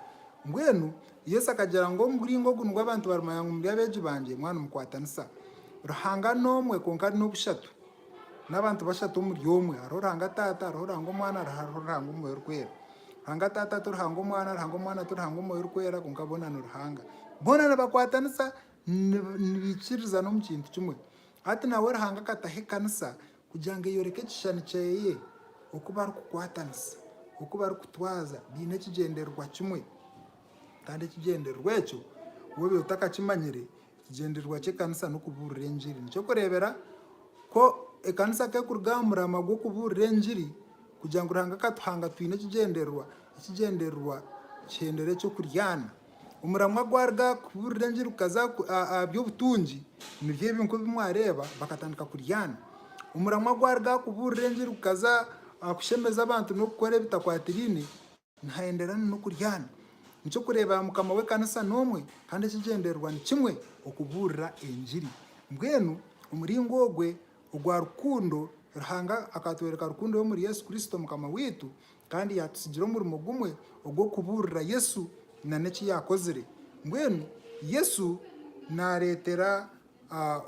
Mbwenu Yesu akagira ngu omuringo ogu nigwo abantu barimanya ngu muri abeegi bangye, mwaba nimukwatanisa. Ruhanga n'omwe, kwonka ari n'obushatu. N'abantu bashatu omuri omwe. Hariho Ruhanga Taata, hariho Ruhanga Omwana, hariho Ruhanga Omwoyo Orikwera. Ruhanga Taata ti Ruhanga Omwana, Ruhanga Omwana ti Ruhanga Omwoyo Orikwera, kwonka boona ni Ruhanga. Boona nibakwatanisa, nibaikiririza n'omu kintu kimwe. Hati nawe Ruhanga akataho ekanisa kugira ngu eyoreke ekishushani kyeye, oku barikukwatanisa, oku barikutwaza baine ekigyendererwa kimwe. Kandi ekigyendererwa ekyo, waaba otakakimanyire, Ekigyendererwa ky'ekanisa n'okubuurira engiri. Nikyo kureebera ku ekanisa ku erikuruga aha murama gw'okubuurira engiri kugira ngu Ruhanga akatuhanga twine ekigyendererwa. Ekigyendererwa kihendera eky'okuryana. Omuramwa gwaruga aha kubuurira engiri gukaza aha by'obutungi, nibyo ebyo nk'ebi mwareeba bakatandika kuryana. Omuramwa gwaruga aha kubuurira engiri gukaza aha kushemeza abantu n'okukora ebitakwatiraine. Nihaenderera nana okuryana. Nikyokureebera mukama w'ekanisa n'omwe kandi ekigyendererwa nikimwe, okubuurira engiri. Mbwenu omuringo ogwe ogwa rukundo, Ruhanga akatworeka rukundo ye omuri Yesu Kristo mukama waitu kandi yatutsigira omurimo gumwe ogw'okubuurira Yesu nana eki yakozire. Mbwenu Yesu nareetera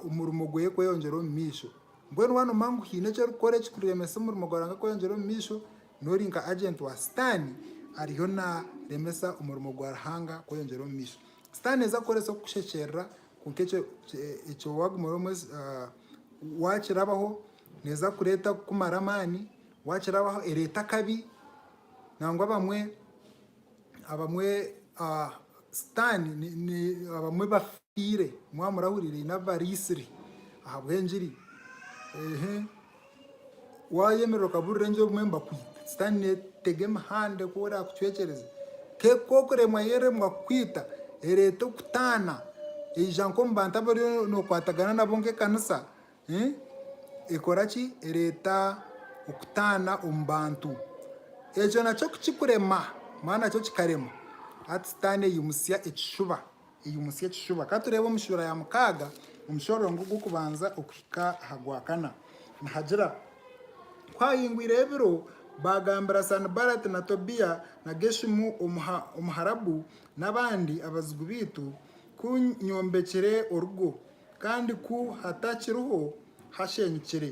omurimo gweye kweyongyera omumaisho. Mbwenu waanoba ngu haine eki orikukora ekikuremesa omurimo gwa Ruhanga kweyongyera omumaisho, N'ori nka agenti wa Sitaane ariyo naaremesa omurimo gwa Ruhanga kweyongyera omu maisho. Sitaane naija kukoresa okukushekyerera, kwonka ekyo waagumira, waakirabaho neeza kureeta kukumara amaani, waakirabaho ereete akabi nangwa abamwe. Abamwe sitaani abamwe bafiire mwaba murahurire haine abariitsire ahabw'engiri wayemerera okaburira engiri obumwe nibakwita sitaani netega emihanda oku erakucwekyereza kwonka okuremwa yeremwa kukwita ereeta okutaana eyija nk'omu bantu abu oriyo nokwatagana nabo nk'ekanisa. ekora ki? Ereeta okutaana omu bantu. Ekyo nakyo ku kikurema, mbwenu nakyo kikarema, hati Sitaane aimutsya ekishuba, aimutsya ekishuba. Ka tureebe omu shuura ya mukaaga, omushororongo gw'okubanza okuhika aha gwakana, nihagira, Ku haahingwireho ebiro, baagambira Sanibalati na Tobiya na Geshumu Omuharabu n'abandi abazigu baitu, Ku nyombekire orugo, kandi ku hatakiriho hashenyukire,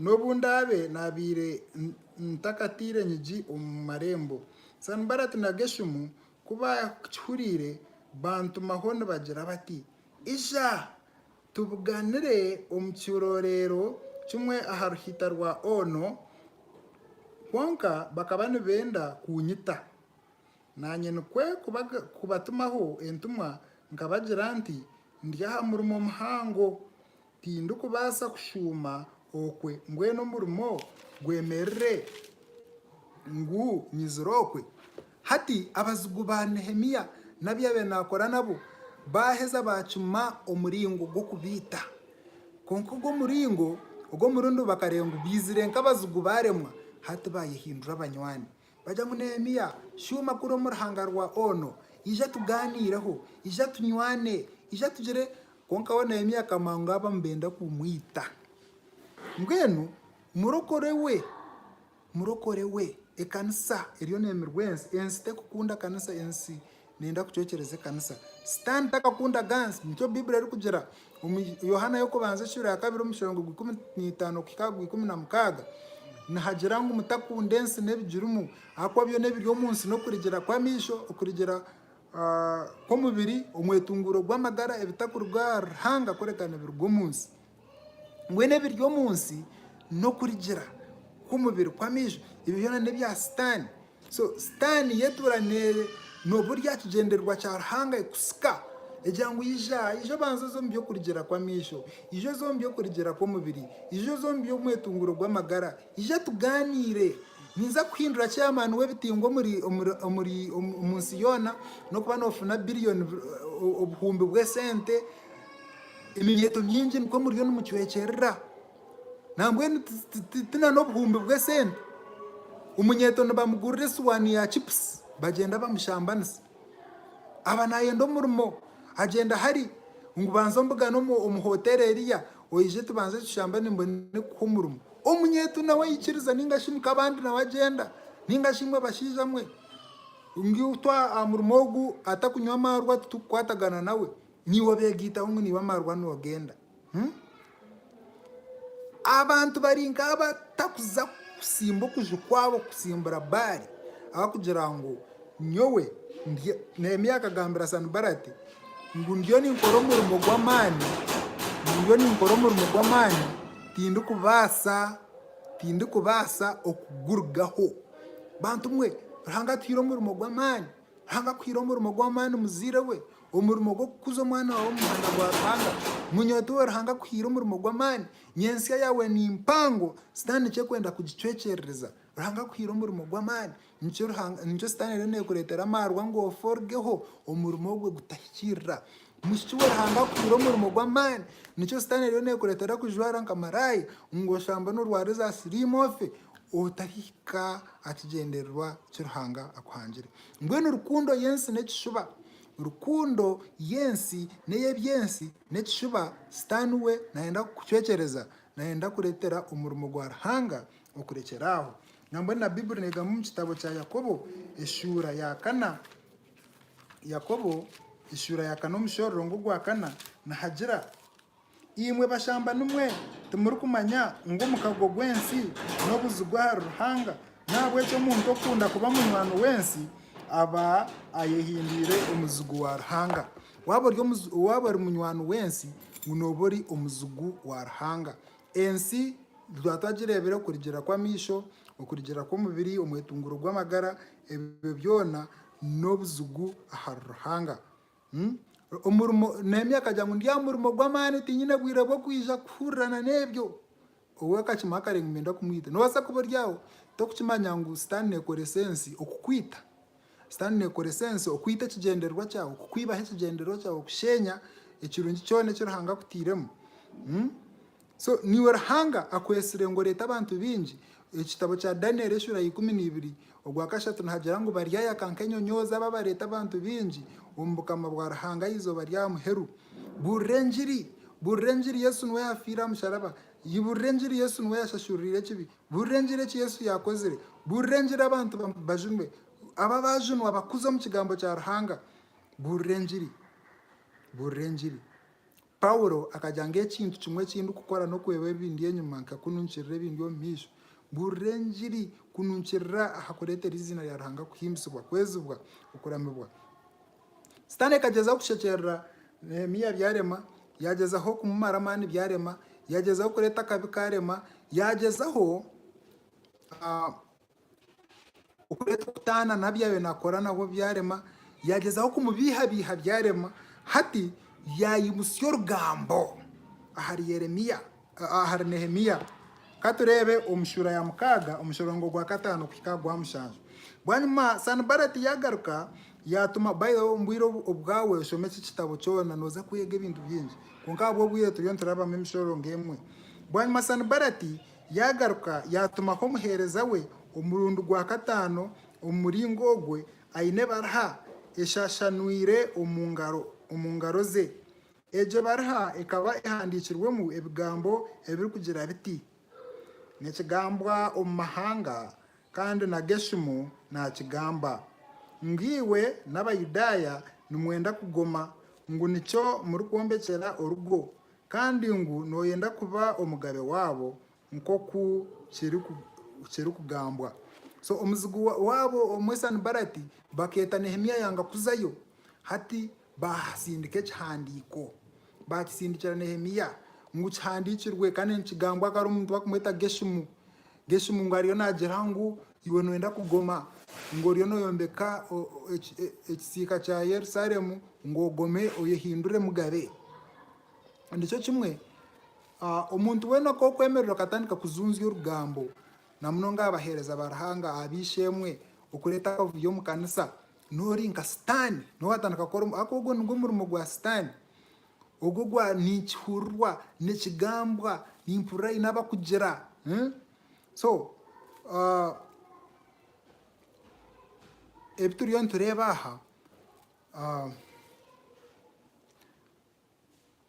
n'obu ndaabe naabaire ntakataire nyigi omu marembo. Sanibalati na Geshumu ku baakihuriire, bantumaho nibagira bati, Ija, tubuganire omu kiroreero kimwe aha ruhiita rwa Ono. Kwonka bakaba nibenda kunyita. Naanye nikwo kubatumaho entumwa nkabagira nti, Ndi aha murimo muhango, tindikubaasa kushuuma okwe mbwenu omurimo gwemerire ngu nyizire okwe. Hati abazigu ba Nehemia n'abi yaabaire naakora nabo baaheza baacuma omuringo gw'okubaita. Kwonka ogwo omuringo ogw'omurundu bakareeba ngu baizire nk'abazigu baaremwa, hati baayehindura abanywani. Bagya ngu, Neemiya, shuuma kuri omu ruhanga rwa Ono, ija tugaaniireho, ija tunywane, ija tugire. Kwonka we Neemiya akamanya ngu aba nibenda kumwita. Mbwenu murokore we, murokore we, ekanisa eriyo neemirwa ensi. Ensi terikukunda kanisa, ensi Niinda kucwekyereza ekanisa. Sitaani takakunda ganzi. Nikyo Baiburi erikugira omu Yohaana y'okubanza ekiura ya kabiri omushorongo gwa ikumi n'eitaano kuhika aha gwa ikumi na mukaaga. Nihagira ngu mutakunda ensi n'ebigirimu, ahakuba byona ebiri omu nsi n'okurigira kw'amaisho, okurigira kw'omubiri, omwetunguuro gw'amagara, ebitakuruga ahari Ruhanga kureka nibiruga omu nsi. Mbwenu ebiri omu nsi n'okurigira kw'omubiri kw'amaijo, ebyo byona n'ebya Sitaane. So Sitaane y'etuura n'oburyo aha kigyendererwa kya Ruhanga ekutsika egira ngu ija, ija obanze oze omu by'okurigira kw'amaijo, ija oze omu by'okurigira kw'omubiri, ija oze omu by'omwetunguuro gw'amagara, ija tugaaniire, ninza kukuhindura chairman w'ebitingwa omu nsi yoona, n'okuba noofuna billion, obuhumbi bw'esente Eminyeeto mingi nikwo muriyo nimucwekyerera, nambwenu ti n'obuhumbi bw'esente? Omunyeeto nibamugurira esuwaani ya chipusi bagyenda bamushambanisa. Aba naayenda omurimo agyenda hari ngu banza ombugane omu hoteeri eriya oije tubanze tushambane mbone kukuha omurimo. Omunyeeto nawe aikiriza nainga shi Mukabandi nawe agyenda nainga shi imwe bashaija mwe ngu itwe aha murimo ogu atakunywa amaarwa titukukwatagana nawe. Niiwe obeegaitaho ngu niiwe amarwa noogenda. Abantu bari nk'abo batakuza kusimba okuju kwabo kusimbura Baali ahabw'okugira ngu nyowe, Neemia akagambira Sanibalati ngu ndiyo ninkora omurimo gw'amaani, ndiyo ninkora omurimo gw'amaani tindikubaasa, tindikubaasa okugurugaho. Bantumwe, Ruhanga atuhaire omurimo gw'amaani Hanga kuhaire omurimo gw'amaani muzaire we, omurimo gw'okukuza omwana waawe omu muhanda gwa Ruhanga. Munywete owe Ruhanga akuhaire omurimo gw'amaani. Nyentsya yaawe ni mpango, Sitaane nikyo arikwenda kugicwekyerereza. Ruhanga akuhaire omurimo gw'amaani, nikyo Sitaane eriyo neekureetera amaarwa ngu ofe orugeho omurimo ogwe gutahikiirira. Mushiki we Ruhanga akuhaire omurimo gw'amaani nikyo sitaane eriyo nekureetera kujwara nka maraaya ngu oshambe norwara eza siriimu ofe otahika aha kigyendererwa ki Ruhanga akuhangire. Mbwenu rukundo y'ensi n'ekishuba. Rukundo y'ensi n'ey'eby'ensi n'ekishuba sitaane we nayenda kukucwekyereza, nayenda kureetera omurimo gwa Ruhanga okurekyera aho. Nambwenu na Baiburi negamba omu kitabo kya Yakobo eshuura ya kana, Yakobo eshuura ya kana omushororongo ogwa kana nihagira, Imwe bashambanimwe, timurikumanya ngu omukago gw'ensi n'obuzigu ahari Ruhanga? Nahabweki omuntu okukunda kuba munywani w'ensi aba ayehindwire omuzigu wa Ruhanga. Waaba ori munywani w'ensi ngu nooba ori omuzigu wa Ruhanga. Ensi twaba twagireebire okurugiirira kw'amaisho, okurugiirira kw'omubiri, omwetunguro gw'amagara. Ebyo byona n'obuzigu ahari Ruhanga. Omurimo, Nehemia akagira ngu, Ndi aha murimo gw'amaani, tinyine bwire bw'okwija kuhurirana n'ebyo. Ou akakimanya akareeba ngu niinyenda kumwita. Noobaasa kuba ori aho, torikukimanya ngu Sitaane neekoresa ensi okukwita. Sitaane neekoresa ensi okwita ekigyendererwa kyawe, kukwibaho ekigyendererwa kyawe, okusheenya ekirungi kyona eki Ruhanga akutairemu. So niiwe Ruhanga akwetsire ngu oreete abantu baingi? Ekitabo kya Danieli eshura ya ikumi na ibiri ogwa kashatu nihagira ngu baryayaka nk'enyonyoozi abo abareeta abantu baingi omu bukama bwa Ruhanga aha izooba rya muheru. Buurira engiri! Buurira engiri Yesu niwe yaafiire aha musharaba. Buurira engiri Yesu niwe yashashururiire ekibi. Buurira engiri eki Yesu yaakozire. Buurira engiri abantu bajunwe. Abo abaajunwa bakuze omu kigambo kya Ruhanga. Buurira engiri! Buurira engiri! Paulo akagira ngu ekintu kimwe eki ndikukora n'okureeba ebindi enyima nka kununkirira ebindi omu maisho. Mbuurira engiri kununkirira aha kureetera eiziina rya Ruhanga kuhimbisibwa, kwezibwa, okuramibwa. Sitaane akagyeza kushekyerera Neehemia byarema, yaagyezaho kumumara amaani byarema, yaagyezaho kureeta akabi kaarema, yaagyezaho Okureetwa okutaana na byaayo naakora nabwo byarema, yaagyezaho kumubiihabiiha byarema, hati yaayimutsya orugambo ahari Yeremia, ahari Nehemia. Ka tureebe omu shuura ya mukaaga, omushorongo gwa kataano kuhika aha gwa mushanju. Bwanyima Sanibalati yaagaruka yaatuma, by the way omu bwire obu bwawe shoma eki kitabo kyona nooza kwega ebintu bingi, kwonka ahabw'obwire turiyo niturabamu emishorongo emwe. Bwanyima Sanibalati Yaagaruka yaatumaho omuheereza we omurundi gwa kataano omu muringo ogwo, aine ebariha eshashanwire omu ngaro ze. Egyo bariha ekaba ehandiikirwemu ebigambo ebirikugira biti, Nikigambwa omu mahanga, kandi na Geshumu naakigamba, ngu iwe n'Abayudaaya nimwenda kugoma, ngu nikyo murikwombekyera orugo, kandi ngu nooyenda kuba omugabe waabo nk'oku kirikugambwa. So omuzigu waabo omwe Sanibalati bakeeta Nehemia yanga kuzayo. Hati baasindika ekihandiiko, baakisindikira Nehemia ngu kihandiikirwe kandi nikigambwa akaba ari omuntu barikumweta Geshumu. Geshumu ngu ariyo naagira ngu iwe nooyenda kugoma, ngu oriyo nooyombeka ekisiika kya Yerusalemu, ngu ogome oyehindure mugabe. Nikyo kimwe, omuntu weena ku orikwemerera okatandika kujunzya orugambo, na munonga aha baheereza ba Ruhanga, aha b'eishe-emwe, okureeta akavuyo omu kanisa, noori nka Sitaane, niwe waatandika kukora, ahakuba ogwo nigwo murimo gwa Sitaane. Ogwo gwa ninkihurirwa, nikigambwa, nimpurira haine abakugira. So ebi turiyo nitureeba aha,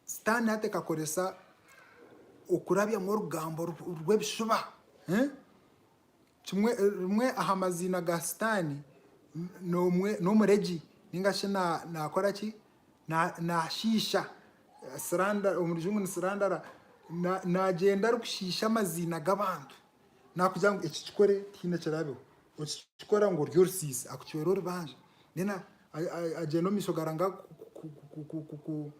sitaani hati ekakoresa okurabyamu orugambo rw'ebishuba. Kimwe, rimwe aha maziina ga Sitaani n'omwe, n'omuregi, ninga shi na, naakora ki? Na, naashiisha. Slander, omu Rujungu ni slandara. Na, naagyenda arikushiisha amaziina g'abantu. Naakugirira ngu eki kikore tihaine kirabeho. Okikikora ngu ori orusiisi, akucwera orubanja. Mbwenu a, a, agyenda omu maisho gaarangaho ku, ku, ku, ku, ku, ku.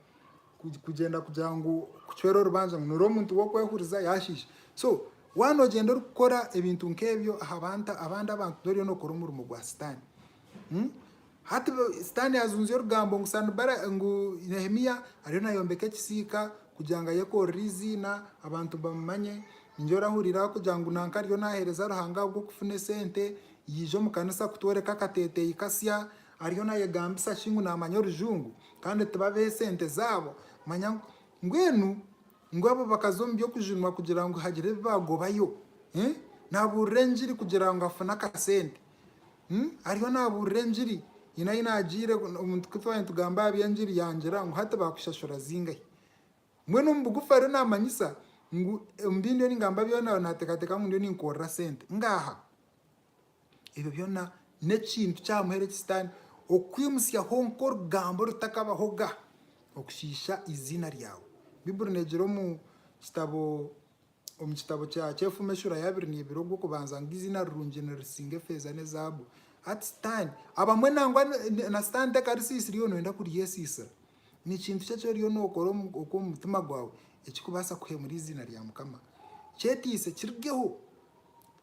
Kugyenda kugira ngu kucwera orubanja ngu noori omuntu w'okwehuriza yaashiisha. So waaba noogyenda orikukora ebintu nk'ebyo aha bantu abandi abantu noriyo nookora omurimo gwa sitaane. Hati sitaane yaajunzya orugambo ngu Sanibala ngu Nehemia ariyo naayombeka ekisiika kugira ngu ayekoorere eiziina abantu bamumanye. Ningira orahurira arikugira ngu nanka ariyo naaheereza Ruhanga ahabw'okufuna esente, yaija omu kanisa kutworeka akateeteeyi kasya, Ariyo nayegambisa shi ngu namanya orujungu kandi tibabeho esente zaabo manya mbwenu ngu abo bakaza omu by'okujunwa kugira ngu hagire ebi bagobayo eh nabuurira enjiri kugira ngu afune akasente hmm ariyo nabuurira enjiri nyine ahi nagiire omuntu ku twaba nitugamba aha by'enjiri yangira ngu hati bakushashura zingahi mbwenu omu bugufu ariyo namanyisa ngu omu bi ndiyo ningamba byona natekateka ngu ndiyo ninkorera sente ngaha. Ebyo byona n'ekintu kyamuheerege Sitaane okukwimutsyaho nk'orugambo orutakabahoga okushiisha eiziina ryawe. Baiburi neegira omu kitabo omu kitabo kya Kyefume eshuura ya abiri neebira ogw'okubanza ngu eiziina rirungi nirisinga efeeza n'ezaabu. Hati Sitaane, abamwe nangwa na Sitaane tekarisiisira iwe nooyenda kuryesiisira. Ni kintu ki eki oriyo nookora okw'omu mutima gwawe ekirikubaasa kuheemura eiziina rya Mukama? Kyeteise kirugeho.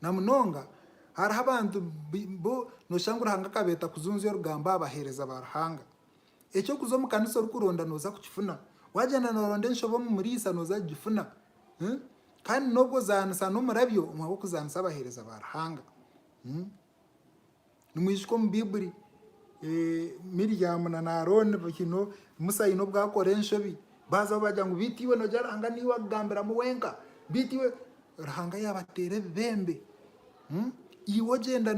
Na munonga, hariho abantu bu nooshanga Ruhanga akabeeta kujunzya orugambo aha baheereza ba Ruhanga. Eky'okuza omu kanisa orikuronda nooza kukifuna. Waagyenda nooronda enshobe omu muriisa nooza kugifuna. Kandi n'obu ozaanisa n'omurabyo, omuha w'okuzaanisa abaheereza ba Ruhanga. Nimwijuka omu Baibuli Miriamu na Arooni, Musa haine obu akora enshobi, baazaho baagira ngu beitu iwe nogira Ruhanga niiwe akugambiramu wenka, beitu iwe, Ruhanga yaabateera ebibembe, iwe ogyenda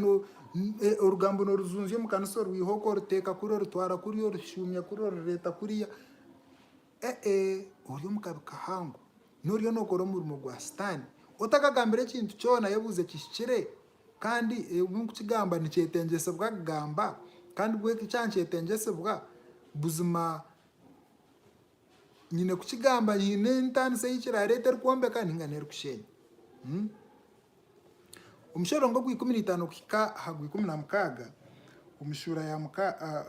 orugambo noorujunzya omu kanisa orwiha oku, oruteeka kuri, orutwara kuriya, orushuumya kuriya, orureeta kuriya. Ee, ori omu kabi kahango. Noriyo nookora omurimo gwa Sitaane. Otakagambire ekintu kyona ayebuuze kihikire, kandi ebi nkukigamba nikyetengyesibwa kugamba, kandi bwega eki aha nikyetengyesibwa. Buzima nyine kukigamba nyine entaanisa ei kiraareeta erikwombeka nainga n'erikusheenya. Omushororongo ogw'ikumi na itaano kuhika aha gw'ikumi na mukaaga omu shuura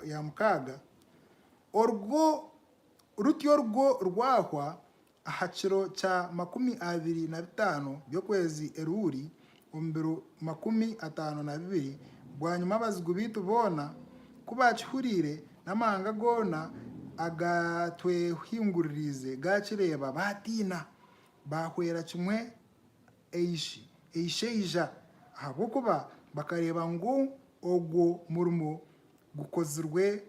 ya mukaaga, orwo Rutyo orwo rwahwa, aha kiro kya makumi abiri na bitaano by'okwezi Eluli, omu biro makumi ataano na bibiri bwanyima abazigu baitu boona ku baakihuriire, n'amahanga goona agaatwehinguririize gaakireeba, baatiina, baahwera kimwe eishaija, ahabw'okuba bakareeba ngu ogwo murimo gukozirwe.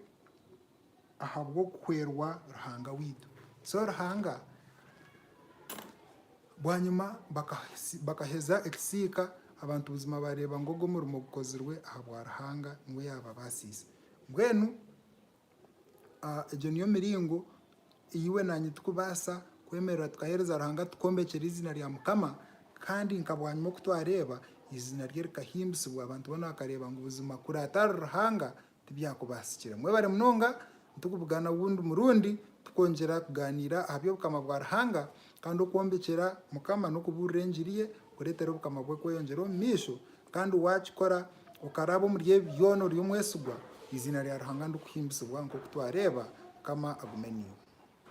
ahabw'okuhwerwa Ruhanga waitu. So Ruhanga bwanyima bakaheza ekisiika, abantu buzima baareeba ngu ogwo murimo gukozirwe ahabwa Ruhanga niwe yaababaasiise. Mbwenu egyo niyo miringo ei iwe naanye turikubaasa kwemerera tukaheereza Ruhanga tukombekire eiziina rya Mukama kandi nka bwanyima oku twareeba eiziina rye rikahimbisibwa abantu boona bakareeba ngu buzima kuraatari Ruhanga Tibyakubaasikire. Mwebare munonga, nitukubugana ogundi murundi tukongyera kugaaniira aha by'obukama bwa Ruhanga kandi okwombekyera Mukama n'okubuurira engiri ye kureetera obukama bwe kweyongyera omu maisho kandi waakikora okaraaba omuri ebi byona ori omwesigwa, eiziina rya Ruhanga nirikuhimbisibwa nk'oku twareeba. Mukama agume naiwe.